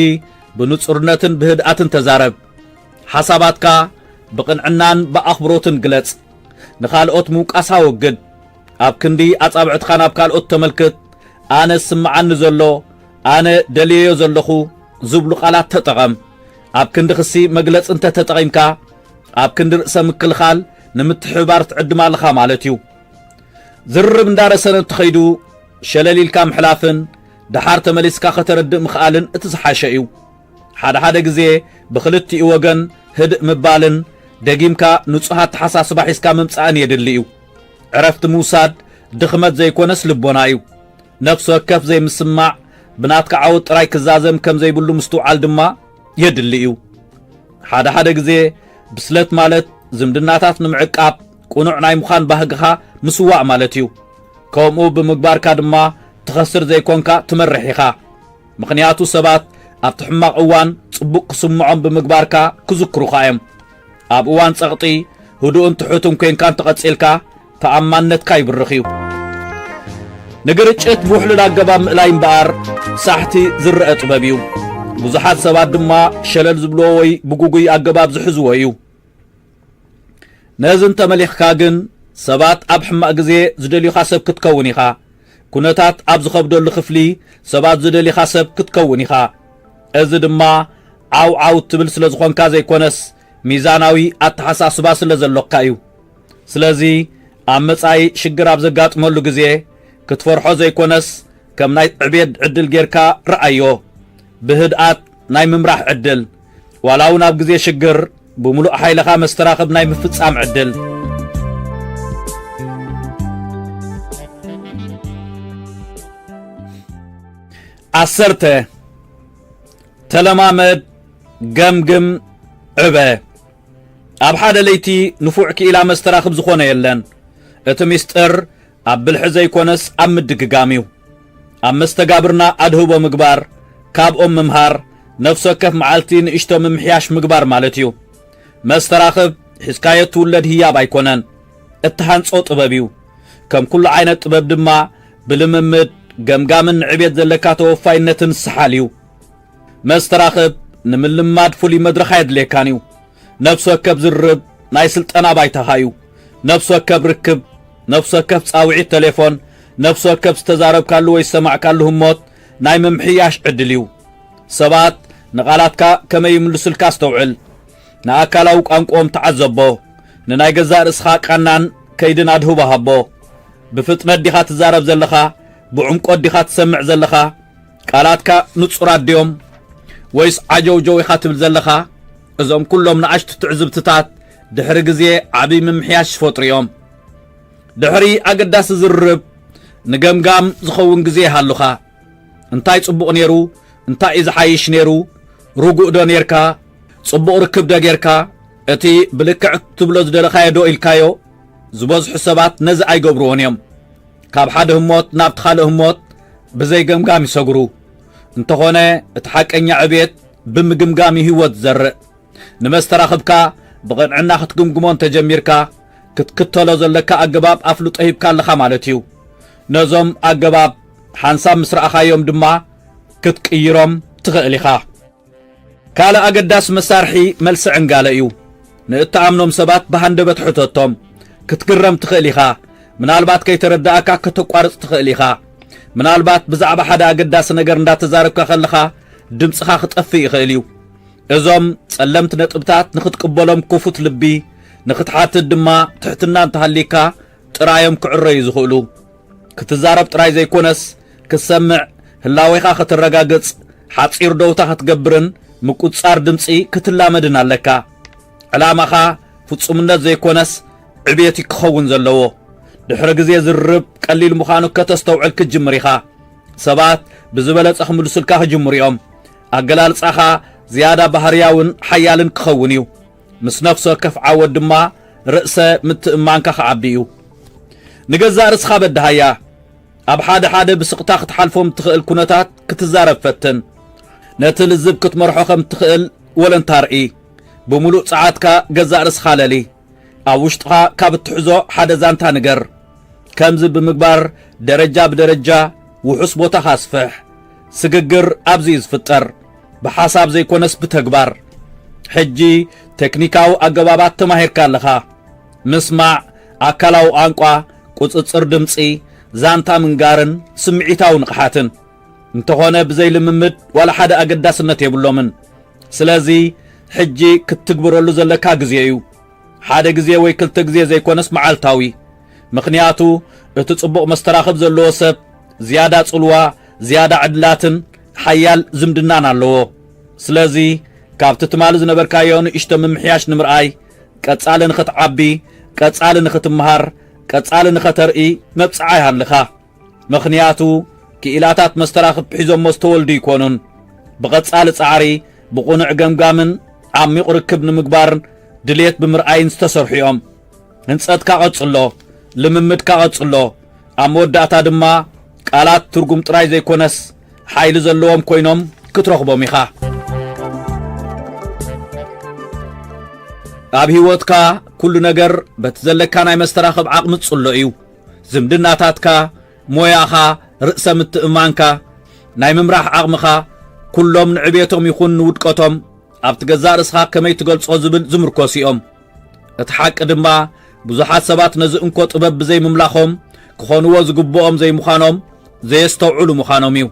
[SPEAKER 1] ብንጹርነትን ብህድኣትን ተዛረብ። ሓሳባትካ ብቕንዕናን ብኣኽብሮትን ግለጽ። ንኻልኦት ምውቃስ ኣወግድ። ኣብ ክንዲ ኣጻብዕትኻ ናብ ካልኦት ተመልክት፣ ኣነ ዝስምዓኒ ዘሎ፣ ኣነ ደልየዮ ዘለኹ ዝብሉ ቃላት ተጠቐም። ኣብ ክንዲ ክሲ መግለጺ እንተ ተጠቒምካ፣ ኣብ ክንዲ ርእሰ ምክልኻል ንምትሕብባር ትዕድም ኣለኻ ማለት እዩ። ዝርርብ እንዳረሰነ እንትኸይዱ ሸለል ኢልካ ምሕላፍን ደሓር ተመሊስካ ከተረድእ ምኽኣልን እቲ ዝሓሸ እዩ። ሓደ ሓደ ግዜ ብኽልቲኡ ወገን ህድእ ምባልን ደጊምካ ንጹህ ኣተሓሳስባ ሒዝካ ምምጻእን የድሊ እዩ። ዕረፍቲ ምውሳድ ድኽመት ዘይኮነስ ልቦና እዩ። ነፍሲ ወከፍ ዘይምስምማዕ ብናትካ ዓወት ጥራይ ክዛዘም ከም ዘይብሉ ምስትውዓል ድማ የድሊ እዩ። ሓደ ሓደ ግዜ ብስለት ማለት ዝምድናታት ንምዕቃብ ቅኑዕ ናይ ምዃን ባህግኻ ምስዋእ ማለት እዩ። ከምኡ ብምግባርካ ድማ ትኸስር ዘይኮንካ ትመርሕ ኢኻ። ምኽንያቱ ሰባት ኣብቲ ሕማቕ እዋን ጽቡቕ ክስምዖም ብምግባርካ ክዝክሩኻ እዮም። ኣብ እዋን ጸቕጢ ህዱእን ትሑትን ኴንካ እንተቐጺልካ ተኣማንነትካ ይብርኽ እዩ። ንግርጭት ብውሕሉል ኣገባብ ምእላይ እምበኣር ሳሕቲ ዝረኣ ጥበብ እዩ። ብዙሓት ሰባት ድማ ሸለል ዝብልዎ ወይ ብግጉይ ኣገባብ ዝሕዝዎ እዩ። ነዚ እንተ መሊኽካ ግን ሰባት ኣብ ሕማቕ ግዜ ዝደልዩኻ ሰብ ክትከውን ኢኻ። ኩነታት ኣብ ዝኸብደሉ ክፍሊ ሰባት ዝደልይኻ ሰብ ክትከውን ኢኻ። እዚ ድማ ዓው ዓው እትብል ስለ ዝኾንካ ዘይኮነስ ሚዛናዊ ኣተሓሳስባ ስለ ዘሎካ እዩ። ስለዚ ኣብ መጻኢ ሽግር ኣብ ዘጋጥመሉ ግዜ ክትፈርሖ ዘይኮነስ ከም ናይ ዕቤት ዕድል ጌርካ ርኣዮ። ብህድኣት ናይ ምምራሕ ዕድል፣ ዋላ እውን ኣብ ግዜ ሽግር ብምሉእ ሓይልኻ መስተራኽብ ናይ ምፍጻም ዕድል። ዓሰርተ ተለማመድ ገምግም ዕበ ኣብ ሓደ ለይቲ ንፉዕ ክኢላ መስተራኽብ ዝኾነ የለን እቲ ሚስጥር ኣብ ብልሒ ዘይኮነስ ኣብ ምድግጋም እዩ። ኣብ መስተጋብርና ኣድህቦ ምግባር፣ ካብኦም ምምሃር፣ ነፍሲ ወከፍ መዓልቲ ንእሽቶ ምምሕያሽ ምግባር ማለት እዩ። መስተራኽብ ሒዝካዮ እትውለድ ህያብ ኣይኮነን፣ እትሃንጾ ጥበብ እዩ። ከም ኩሉ ዓይነት ጥበብ ድማ ብልምምድ፣ ገምጋምን ንዕቤት ዘለካ ተወፋይነትን ዝሰሓል እዩ። መስተራኽብ ንምልምማድ ፍሉይ መድረኽ ኣየድልየካን እዩ። ነፍሲ ወከፍ ዝርርብ ናይ ስልጠና ባይታኻ እዩ። ነፍሲ ወከፍ ርክብ፣ ነፍሲ ወከፍ ጻውዒት ተሌፎን፣ ነፍሲ ወከፍ ዝተዛረብካሉ ወይ ዝሰማዕካሉ ህሞት ናይ ምምሕያሽ ዕድል እዩ። ሰባት ንቓላትካ ከመይ ይምልሱልካ ኣስተውዕል። ንኣካላዊ ቋንቋኦም ተዓዘቦ። ንናይ ገዛእ ርእስኻ ቃናን ከይድን ኣድህቦ ሃቦ። ብፍጥነት ዲኻ ትዛረብ ዘለኻ? ብዕምቈት ዲኻ ትሰምዕ ዘለኻ? ቃላትካ ንጹራት ድዮም? ወይስ ዓጀውጀው ኢኻ ትብል ዘለኻ? እዞም ኵሎም ንኣሽቱ ትዕዝብትታት፣ ድሕሪ ግዜ ዓብይ ምምሕያሽ ይፈጥሩ እዮም። ድሕሪ ኣገዳሲ ዝርርብ ንገምጋም ዝኸውን ግዜ ይሃሉኻ። እንታይ ጽቡቕ ነይሩ? እንታይ እዩ ዝሓይሽ ነይሩ? ርጉእ ዶ ነይርካ? ጽቡቕ ርክብ ዶ ጌርካ? እቲ ብልክዕ ክትብሎ ዝደለኻዮ ዶ ኢልካዮ? ዝበዝሑ ሰባት ነዚ ኣይገብርዎን እዮም። ካብ ሓደ ህሞት ናብቲ ካልእ ህሞት ብዘይ ገምጋም ይሰግሩ። እንተኾነ እቲ ሓቀኛ ዕብየት ብምግምጋም እዩ ህይወት ዝዘርእ። ንመስተራኽብካ ብቕንዕና ክትግምግሞ እንተ ጀሚርካ፣ ክትክተሎ ዘለካ ኣገባብ ኣፍልጦ ሂብካ ኣለኻ ማለት እዩ። ነዞም ኣገባብ ሓንሳብ ምስ ረኣኻዮም ድማ ክትቅይሮም ትኽእል ኢኻ። ካልእ ኣገዳሲ መሳርሒ መልሲ ዕንጋለ እዩ። ንእትኣምኖም ሰባት ብሃንደበት ሕተቶም። ክትግረም ትኽእል ኢኻ። ምናልባት ከይተረድኣካ ከተቋርጽ ትኽእል ኢኻ። ምናልባት ብዛዕባ ሓደ ኣገዳሲ ነገር እንዳተዛረብካ ከለኻ ድምጽኻ ክጠፍእ ይኽእል እዩ። እዞም ጸለምቲ ነጥብታት ንኽትቅበሎም ክፉት ልቢ፣ ንኽትሓትት ድማ ትሕትና እንተሃልይካ ጥራዮም ክዕረዩ ዝኽእሉ። ክትዛረብ ጥራይ ዘይኮነስ ክትሰምዕ፣ ህላዌኻ ከተረጋግጽ፣ ሓጺር ደውታ ክትገብርን ምቁጽጻር ድምጺ ክትላመድን ኣለካ። ዕላማኻ ፍጹምነት ዘይኮነስ ዕብየት እዩ ክኸውን ዘለዎ። ድሕሪ ግዜ ዝርርብ ቀሊል ምዃኑ ከተስተውዕል ክትጅምር ኢኻ። ሰባት ብዝበለጸ ክምልሱልካ ክጅምሩ እዮም። ኣገላልጻኻ ዝያዳ ባህርያውን ሓያልን ክኸውን እዩ። ምስ ነፍሲ ወከፍ ዓወት ድማ ርእሰ ምትእምማንካ ክዓቢ እዩ። ንገዛእ ርእስኻ በድሃያ። ኣብ ሓደ ሓደ ብስቕታ ክትሓልፎም እትኽእል ኩነታት ክትዛረብ ፈትን። ነቲ ልዝብ ክትመርሖ ከም እትኽእል ወለንታ ርኢ። ብምሉእ ጸዓትካ ገዛእ ርእስኻ ለሊ። ኣብ ውሽጥኻ ካብ እትሕዞ ሓደ ዛንታ ንገር። ከምዚ ብምግባር ደረጃ ብደረጃ ውሑስ ቦታኻ ኣስፍሕ። ስግግር ኣብዚ እዩ ዝፍጠር፣ ብሓሳብ ዘይኮነስ ብተግባር። ሕጂ ቴክኒካዊ ኣገባባት ተማሂርካ ኣለኻ። ምስማዕ፣ ኣካላዊ ቋንቋ፣ ቁጽጽር ድምጺ፣ ዛንታ ምንጋርን ስምዒታዊ ንቕሓትን። እንተኾነ ብዘይ ልምምድ ዋላ ሓደ ኣገዳስነት የብሎምን። ስለዚ ሕጂ ክትትግብረሉ ዘለካ ግዜ እዩ። ሓደ ግዜ ወይ ክልተ ግዜ ዘይኮነስ መዓልታዊ። ምኽንያቱ እቲ ጽቡቕ መስተራኽብ ዘለዎ ሰብ ዝያዳ ጽልዋ፣ ዝያዳ ዕድላትን ሓያል ዝምድናን ኣለዎ። ስለዚ ካብቲ ትማሊ ዝነበርካዮ ንእሽቶ ምምሕያሽ ንምርኣይ፣ ቀጻሊ ንኽትዓቢ፣ ቀጻሊ ንኽትመሃር፣ ቀጻሊ ንኸተርኢ መብጽዓ ይሃልኻ። ምኽንያቱ ክኢላታት መስተራኽብ ሒዞሞ ዝተወልዱ ኣይኮኑን። ብቐጻሊ ጻዕሪ፣ ብቕኑዕ ገምጋምን ዓሚቝ ርክብ ንምግባር ድሌት ብምርኣይን ዝተሰርሑ እዮም። ህንጸትካ ቀጽሎ፣ ልምምድካ ቀጽሎ፣ ኣብ መወዳእታ ድማ ቃላት ትርጉም ጥራይ ዘይኮነስ ሓይሊ ዘለዎም ኮይኖም ክትረኽቦም ኢኻ። ኣብ ህይወትካ ኩሉ ነገር በቲ ዘለካ ናይ መስተራኽብ ዓቕሚ ዝጽሎ እዩ። ዝምድናታትካ፣ ሞያኻ፣ ርእሰ ምትእምማንካ፣ ናይ ምምራሕ ዓቕምኻ፣ ኩሎም ንዕቤቶም ይኹን ንውድቀቶም ኣብቲ ገዛእ ርእስኻ ከመይ ትገልጾ ዝብል ዝምርኮሱ እዮም። እቲ ሓቂ ድማ ብዙሓት ሰባት ነዚ እንኮ ጥበብ ብዘይ ምምላኾም ክኾንዎ ዝግብኦም ዘይምዃኖም ዘየስተውዕሉ ምዃኖም እዩ።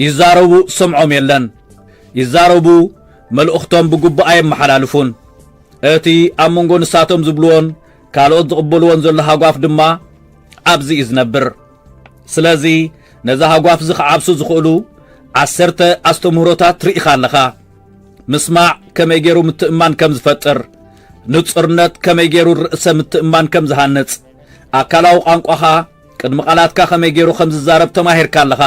[SPEAKER 1] ይዛረቡ ዝሰምዖም የለን። ይዛረቡ መልእኽቶም ብግቡእ ኣየመሓላልፉን። እቲ ኣብ መንጎ ንሳቶም ዝብልዎን ካልኦት ዝቕበልዎን ዘሎ ሃጓፍ ድማ ኣብዚ እዩ ዝነብር ስለዚ ነዚ ሃጓፍ እዚ ክዓብሱ ዝኽእሉ ዓሰርተ ኣስተምህሮታት ርኢኻ ኣለኻ ምስማዕ ከመይ ገይሩ ምትእማን ከም ዝፈጥር ንጽርነት ከመይ ገይሩ ርእሰ ምትእማን ከም ዝሃንጽ ኣካላዊ ቋንቋኻ ቅድሚ ቓላትካ ከመይ ገይሩ ከም ዝዛረብ ተማሂርካ ኣለኻ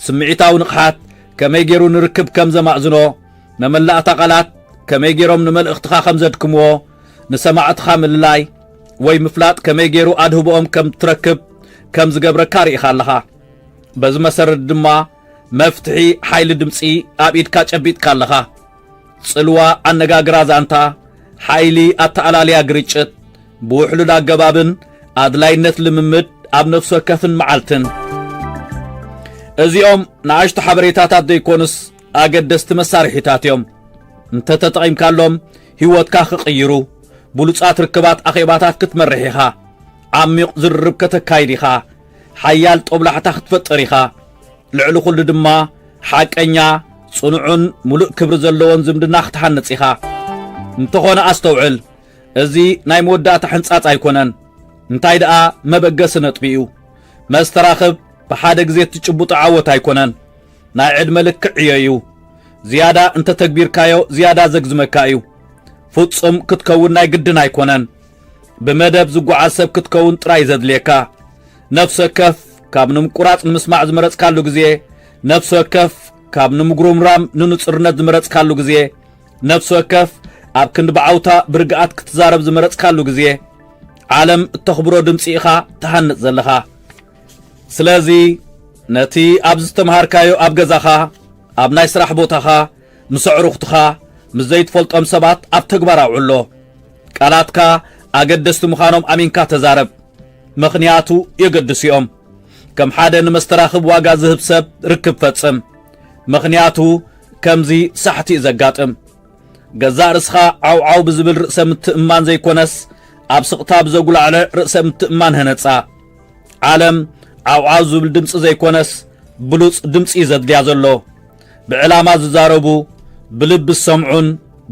[SPEAKER 1] ስምዒታዊ ንቕሓት ከመይ ገይሩ ንርክብ ከም ዘማእዝኖ መመላእታ ቓላት ከመይ ገይሮም ንመልእኽትኻ ከም ዘድክምዎ ንሰማዕትኻ ምልላይ ወይ ምፍላጥ ከመይ ገይሩ ኣድህቦኦም ከም እትረክብ ከም ዝገብረካ ርኢኻ ኣለኻ። በዚ መሰረት ድማ መፍትሒ ሓይሊ ድምጺ ኣብ ኢድካ ጨቢጥካ ኣለኻ። ጽልዋ ኣነጋግራ ዛንታ፣ ሓይሊ ኣተኣላልያ ግርጭት፣ ብውሕሉል ኣገባብን ኣድላይነት ልምምድ ኣብ ነፍሲ ወከፍን መዓልትን እዚኦም ንኣሽቱ ሓበሬታታት ዘይኮኑስ ኣገደስቲ መሳርሒታት እዮም። እንተተጠቒምካሎም ህይወትካ ክቕይሩ፣ ብሉጻት ርክባት ኣኼባታት ክትመርሕ ኢኻ፣ ዓሚቝ ዝርርብ ከተካይድ ኢኻ፣ ሓያል ጦብላሕታ ክትፈጥር ኢኻ፣ ልዕሊ ዅሉ ድማ ሓቀኛ፣ ጽኑዕን ምሉእ ክብሪ ዘለዎን ዝምድና ክትሃንጽ ኢኻ። እንተዀነ ኣስተውዕል፣ እዚ ናይ መወዳእታ ሕንጻጽ ኣይኰነን፣ እንታይ ደኣ መበገሲ ነጥቢ እዩ። መስተራኽብ ብሓደ ግዜ እትጭብጦ ዓወት ኣይኰነን። ናይ ዕድመ ልክዕ ዕዮ እዩ። ዝያዳ እንተ ተግቢርካዮ ዝያዳ ዘግዝመካ እዩ። ፍጹም ክትከውን ናይ ግድን ኣይኮነን። ብመደብ ዝጓዓዝ ሰብ ክትከውን ጥራይ እዩ ዘድልየካ። ነፍሲ ወከፍ ካብ ንምቁራጽ ንምስማዕ ዝመረጽካሉ ግዜ፣ ነፍሲ ወከፍ ካብ ንምጉርምራም ንንጹርነት ዝመረጽካሉ ግዜ፣ ነፍሲ ወከፍ ኣብ ክንዲ ብዓውታ ብርግኣት ክትዛረብ ዝመረጽካሉ ግዜ፣ ዓለም እተኽብሮ ድምጺ ኢኻ ትሃንጽ ዘለኻ። ስለዚ ነቲ ኣብ ዝተምሃርካዮ ኣብ ገዛኻ ኣብ ናይ ስራሕ ቦታኻ ምስ ኣዕሩኽትኻ ምስ ዘይትፈልጦም ሰባት ኣብ ተግባር ኣውዕሎ ቃላትካ ኣገደስቲ ምዃኖም ኣሚንካ ተዛረብ ምኽንያቱ የገድሱ እዮም ከም ሓደ ንመስተራኽብ ዋጋ ዝህብ ሰብ ርክብ ፈጽም ምኽንያቱ ከምዚ ሳሕቲ እዩ ዘጋጥም ገዛእ ርእስኻ ዓውዓው ብዝብል ርእሰ ምትእማን ዘይኮነስ ኣብ ስቕታ ብዘጉላዕለ ርእሰ ምትእማን ህነጻ ዓለም ዓውዓው ዝብል ድምፂ ዘይኮነስ ብሉፅ ድምፂ እዩ ዘድልያ ዘሎ ብዕላማ ዝዛረቡ ብልቢ ዝሰምዑን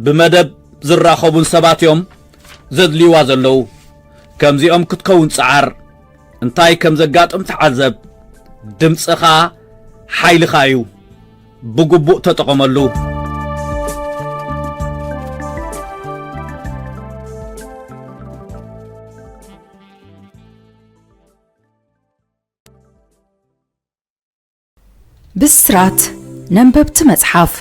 [SPEAKER 1] ብመደብ ዝራኸቡን ሰባት እዮም ዘድልይዋ ዘለዉ ከምዚኦም ክትከውን ፀዓር እንታይ ከም ዘጋጥም ተዓዘብ ድምፅኻ ሓይልኻ እዩ ብግቡእ ተጠቐመሉ
[SPEAKER 2] ብስራት ነንበብቲ መጽሓፍ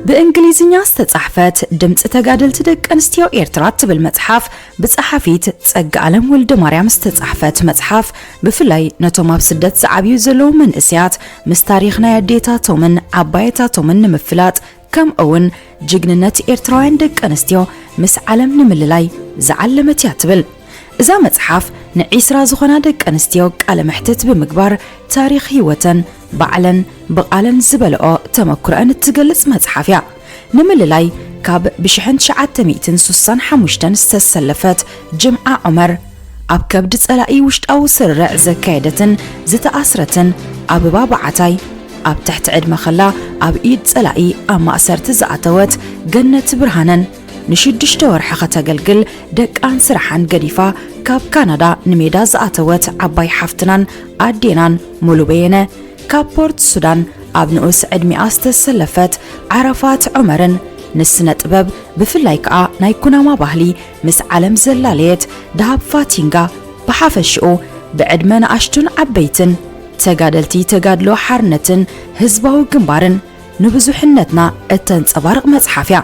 [SPEAKER 2] ብእንግሊዝኛ ዝተጻሕፈት ድምፂ ተጋደልቲ ደቂ ኣንስትዮ ኤርትራ እትብል መጽሓፍ ብጸሓፊት ጸጋ ኣለም ወልደ ማርያም ዝተጻሕፈት መጽሓፍ ብፍላይ ነቶም ኣብ ስደት ዝዓብዩ ዘለዉ መንእስያት ምስ ታሪኽ ናይ ኣዴታቶምን ዓባየታቶምን ንምፍላጥ ከምኡውን ጅግንነት ኤርትራውያን ደቂ ኣንስትዮ ምስ ዓለም ንምልላይ ዝዓለመት እያ ትብል እዛ መጽሓፍ ንዒስራ ዝኾና ደቂ ኣንስትዮ ቃለ መሕትት ብምግባር ታሪኽ ህይወተን ባዕለን ብቓለን ዝበለኦ ተመክሮአን እትገልጽ መጽሓፍ እያ ንምልላይ ካብ ብሽሕን ትሽዓተ ሚእትን ሱሳን ሓሙሽተን ዝተሰለፈት ጅምዓ ዑመር ኣብ ከብዲ ጸላኢ ውሽጣዊ ስርርዕ ዘካየደትን ዝተኣስረትን ኣበባ በዓታይ፣ ኣብ ትሕቲ ዕድመ ከላ ኣብ ኢድ ጸላኢ ኣብ ማእሰርቲ ዝኣተወት ገነት ብርሃነን፣ ንሽዱሽተ ወርሒ ከተገልግል ደቃን ስራሓን ገዲፋ ካብ ካናዳ ንሜዳ ዝኣተወት ዓባይ ሓፍትናን ኣዴናን ሙሉ በየነ፣ ካብ ፖርት ሱዳን ኣብ ንኡስ ዕድሚኣ ዝተሰለፈት ዓረፋት ዑመርን፣ ንስነ ጥበብ ብፍላይ ከኣ ናይ ኩናማ ባህሊ ምስ ዓለም ዘላለየት ደሃብ ፋቲንጋ ብሓፈሽኡ ብዕድመ ንኣሽቱን ዓበይትን ተጋደልቲ ተጋድሎ ሓርነትን ህዝባዊ ግንባርን ንብዙሕነትና እተንጸባርቕ መጽሓፍ እያ።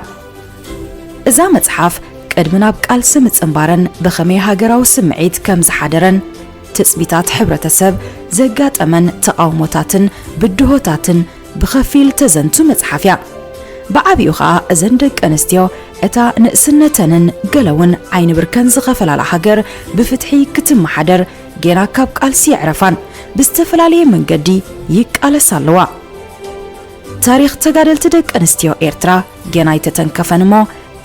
[SPEAKER 2] እዛ መጽሓፍ ቅድሚ ናብ ቃልሲ ምጽንባረን ብኸመይ ሃገራዊ ስምዒት ከም ዝሓደረን ትጽቢታት ሕብረተሰብ፣ ዘጋጠመን ተቓውሞታትን ብድሆታትን ብኸፊል ተዘንቱ መጽሓፍ እያ። ብዓቢኡ ኸኣ እዘን ደቂ ኣንስትዮ እታ ንእስነተንን ገለ እውን ዓይኒ ብርከን ዝኸፈላላ ሃገር ብፍትሒ ክትመሓደር ጌና ካብ ቃልሲ የዕረፋን ብዝተፈላለየ መንገዲ ይቃለሳ ኣለዋ። ታሪኽ ተጋደልቲ ደቂ ኣንስትዮ ኤርትራ ጌና ኣይተተንከፈን እሞ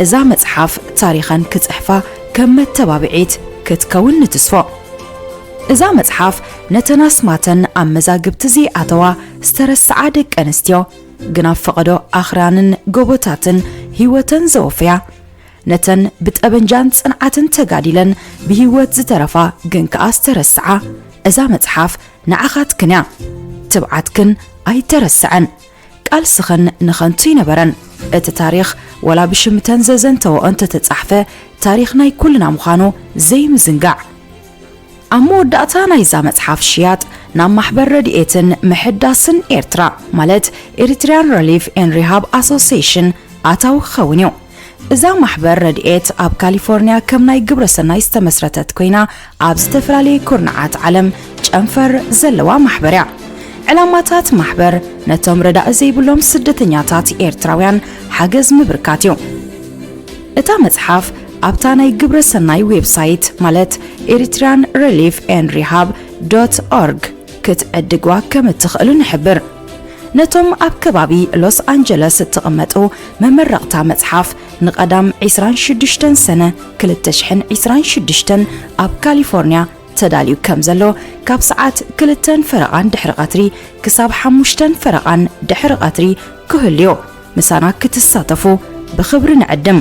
[SPEAKER 2] እዛ መጽሓፍ ታሪኸን ክጽሕፋ ከም መተባብዒት ክትከውን ንትስፎ። እዛ መጽሓፍ ነተን ኣስማተን ኣብ መዛግብቲ ዘይኣተዋ ዝተረስዓ ደቂ ኣንስትዮ ግን ኣብ ፈቐዶ ኣኽራንን ጎቦታትን ህይወተን ዘወፈያ ነተን ብጠበንጃን ጽንዓትን ተጋዲለን ብህይወት ዝተረፋ ግን ከኣ ዝተረስዓ እዛ መጽሓፍ ንዓኻትክን እያ ትብዓትክን ኣይተረስዐን ቃልስኽን ንኸንቱ ኣይነበረን እቲ ታሪኽ ወላ ብሽምተን ዘዘንተወኦ እንተተጻሕፈ ታሪኽ ናይ ኩልና ምዃኑ ዘይምዝንጋዕ ኣብ መወዳእታ ናይዛ መጽሓፍ ሽያጥ ናብ ማሕበር ረድኤትን ምሕዳስን ኤርትራ ማለት ኤሪትሪያን ረሊፍ ኤን ሪሃብ ኣሶሴሽን ኣታዊ ክኸውን እዩ። እዛ ማሕበር ረድኤት ኣብ ካሊፎርኒያ ከም ናይ ግብረ ሰናይ ዝተመስረተት ኮይና ኣብ ዝተፈላለየ ኩርናዓት ዓለም ጨንፈር ዘለዋ ማሕበር እያ። ዕላማታት ማሕበር ነቶም ረዳኢ ዘይብሎም ስደተኛታት ኤርትራውያን ሓገዝ ምብርካት እዩ። እታ መጽሓፍ ኣብታ ናይ ግብረ ሰናይ ዌብሳይት ማለት ኤሪትሪያን ሪሊፍ ኤን ሪሃብ ዶት ኦርግ ክትዕድግዋ ከም እትኽእሉ ንሕብር። ነቶም ኣብ ከባቢ ሎስ ኣንጀለስ እትቕመጡ መመረቕታ መጽሓፍ ንቀዳም ዕስራን ሽዱሽተን ሰነ ክልተ ሽሕን ዕስራን ሽዱሽተን ኣብ ካሊፎርንያ ተዳልዩ ከም ዘሎ ካብ ሰዓት ክልተን ፈረቓን ድሕሪ ቀትሪ ክሳብ ሓሙሽተን ፈረቓን ድሕሪ ቀትሪ ክህሉዮ ምሳና ክትሳተፉ ብኽብሪ ንዕድም።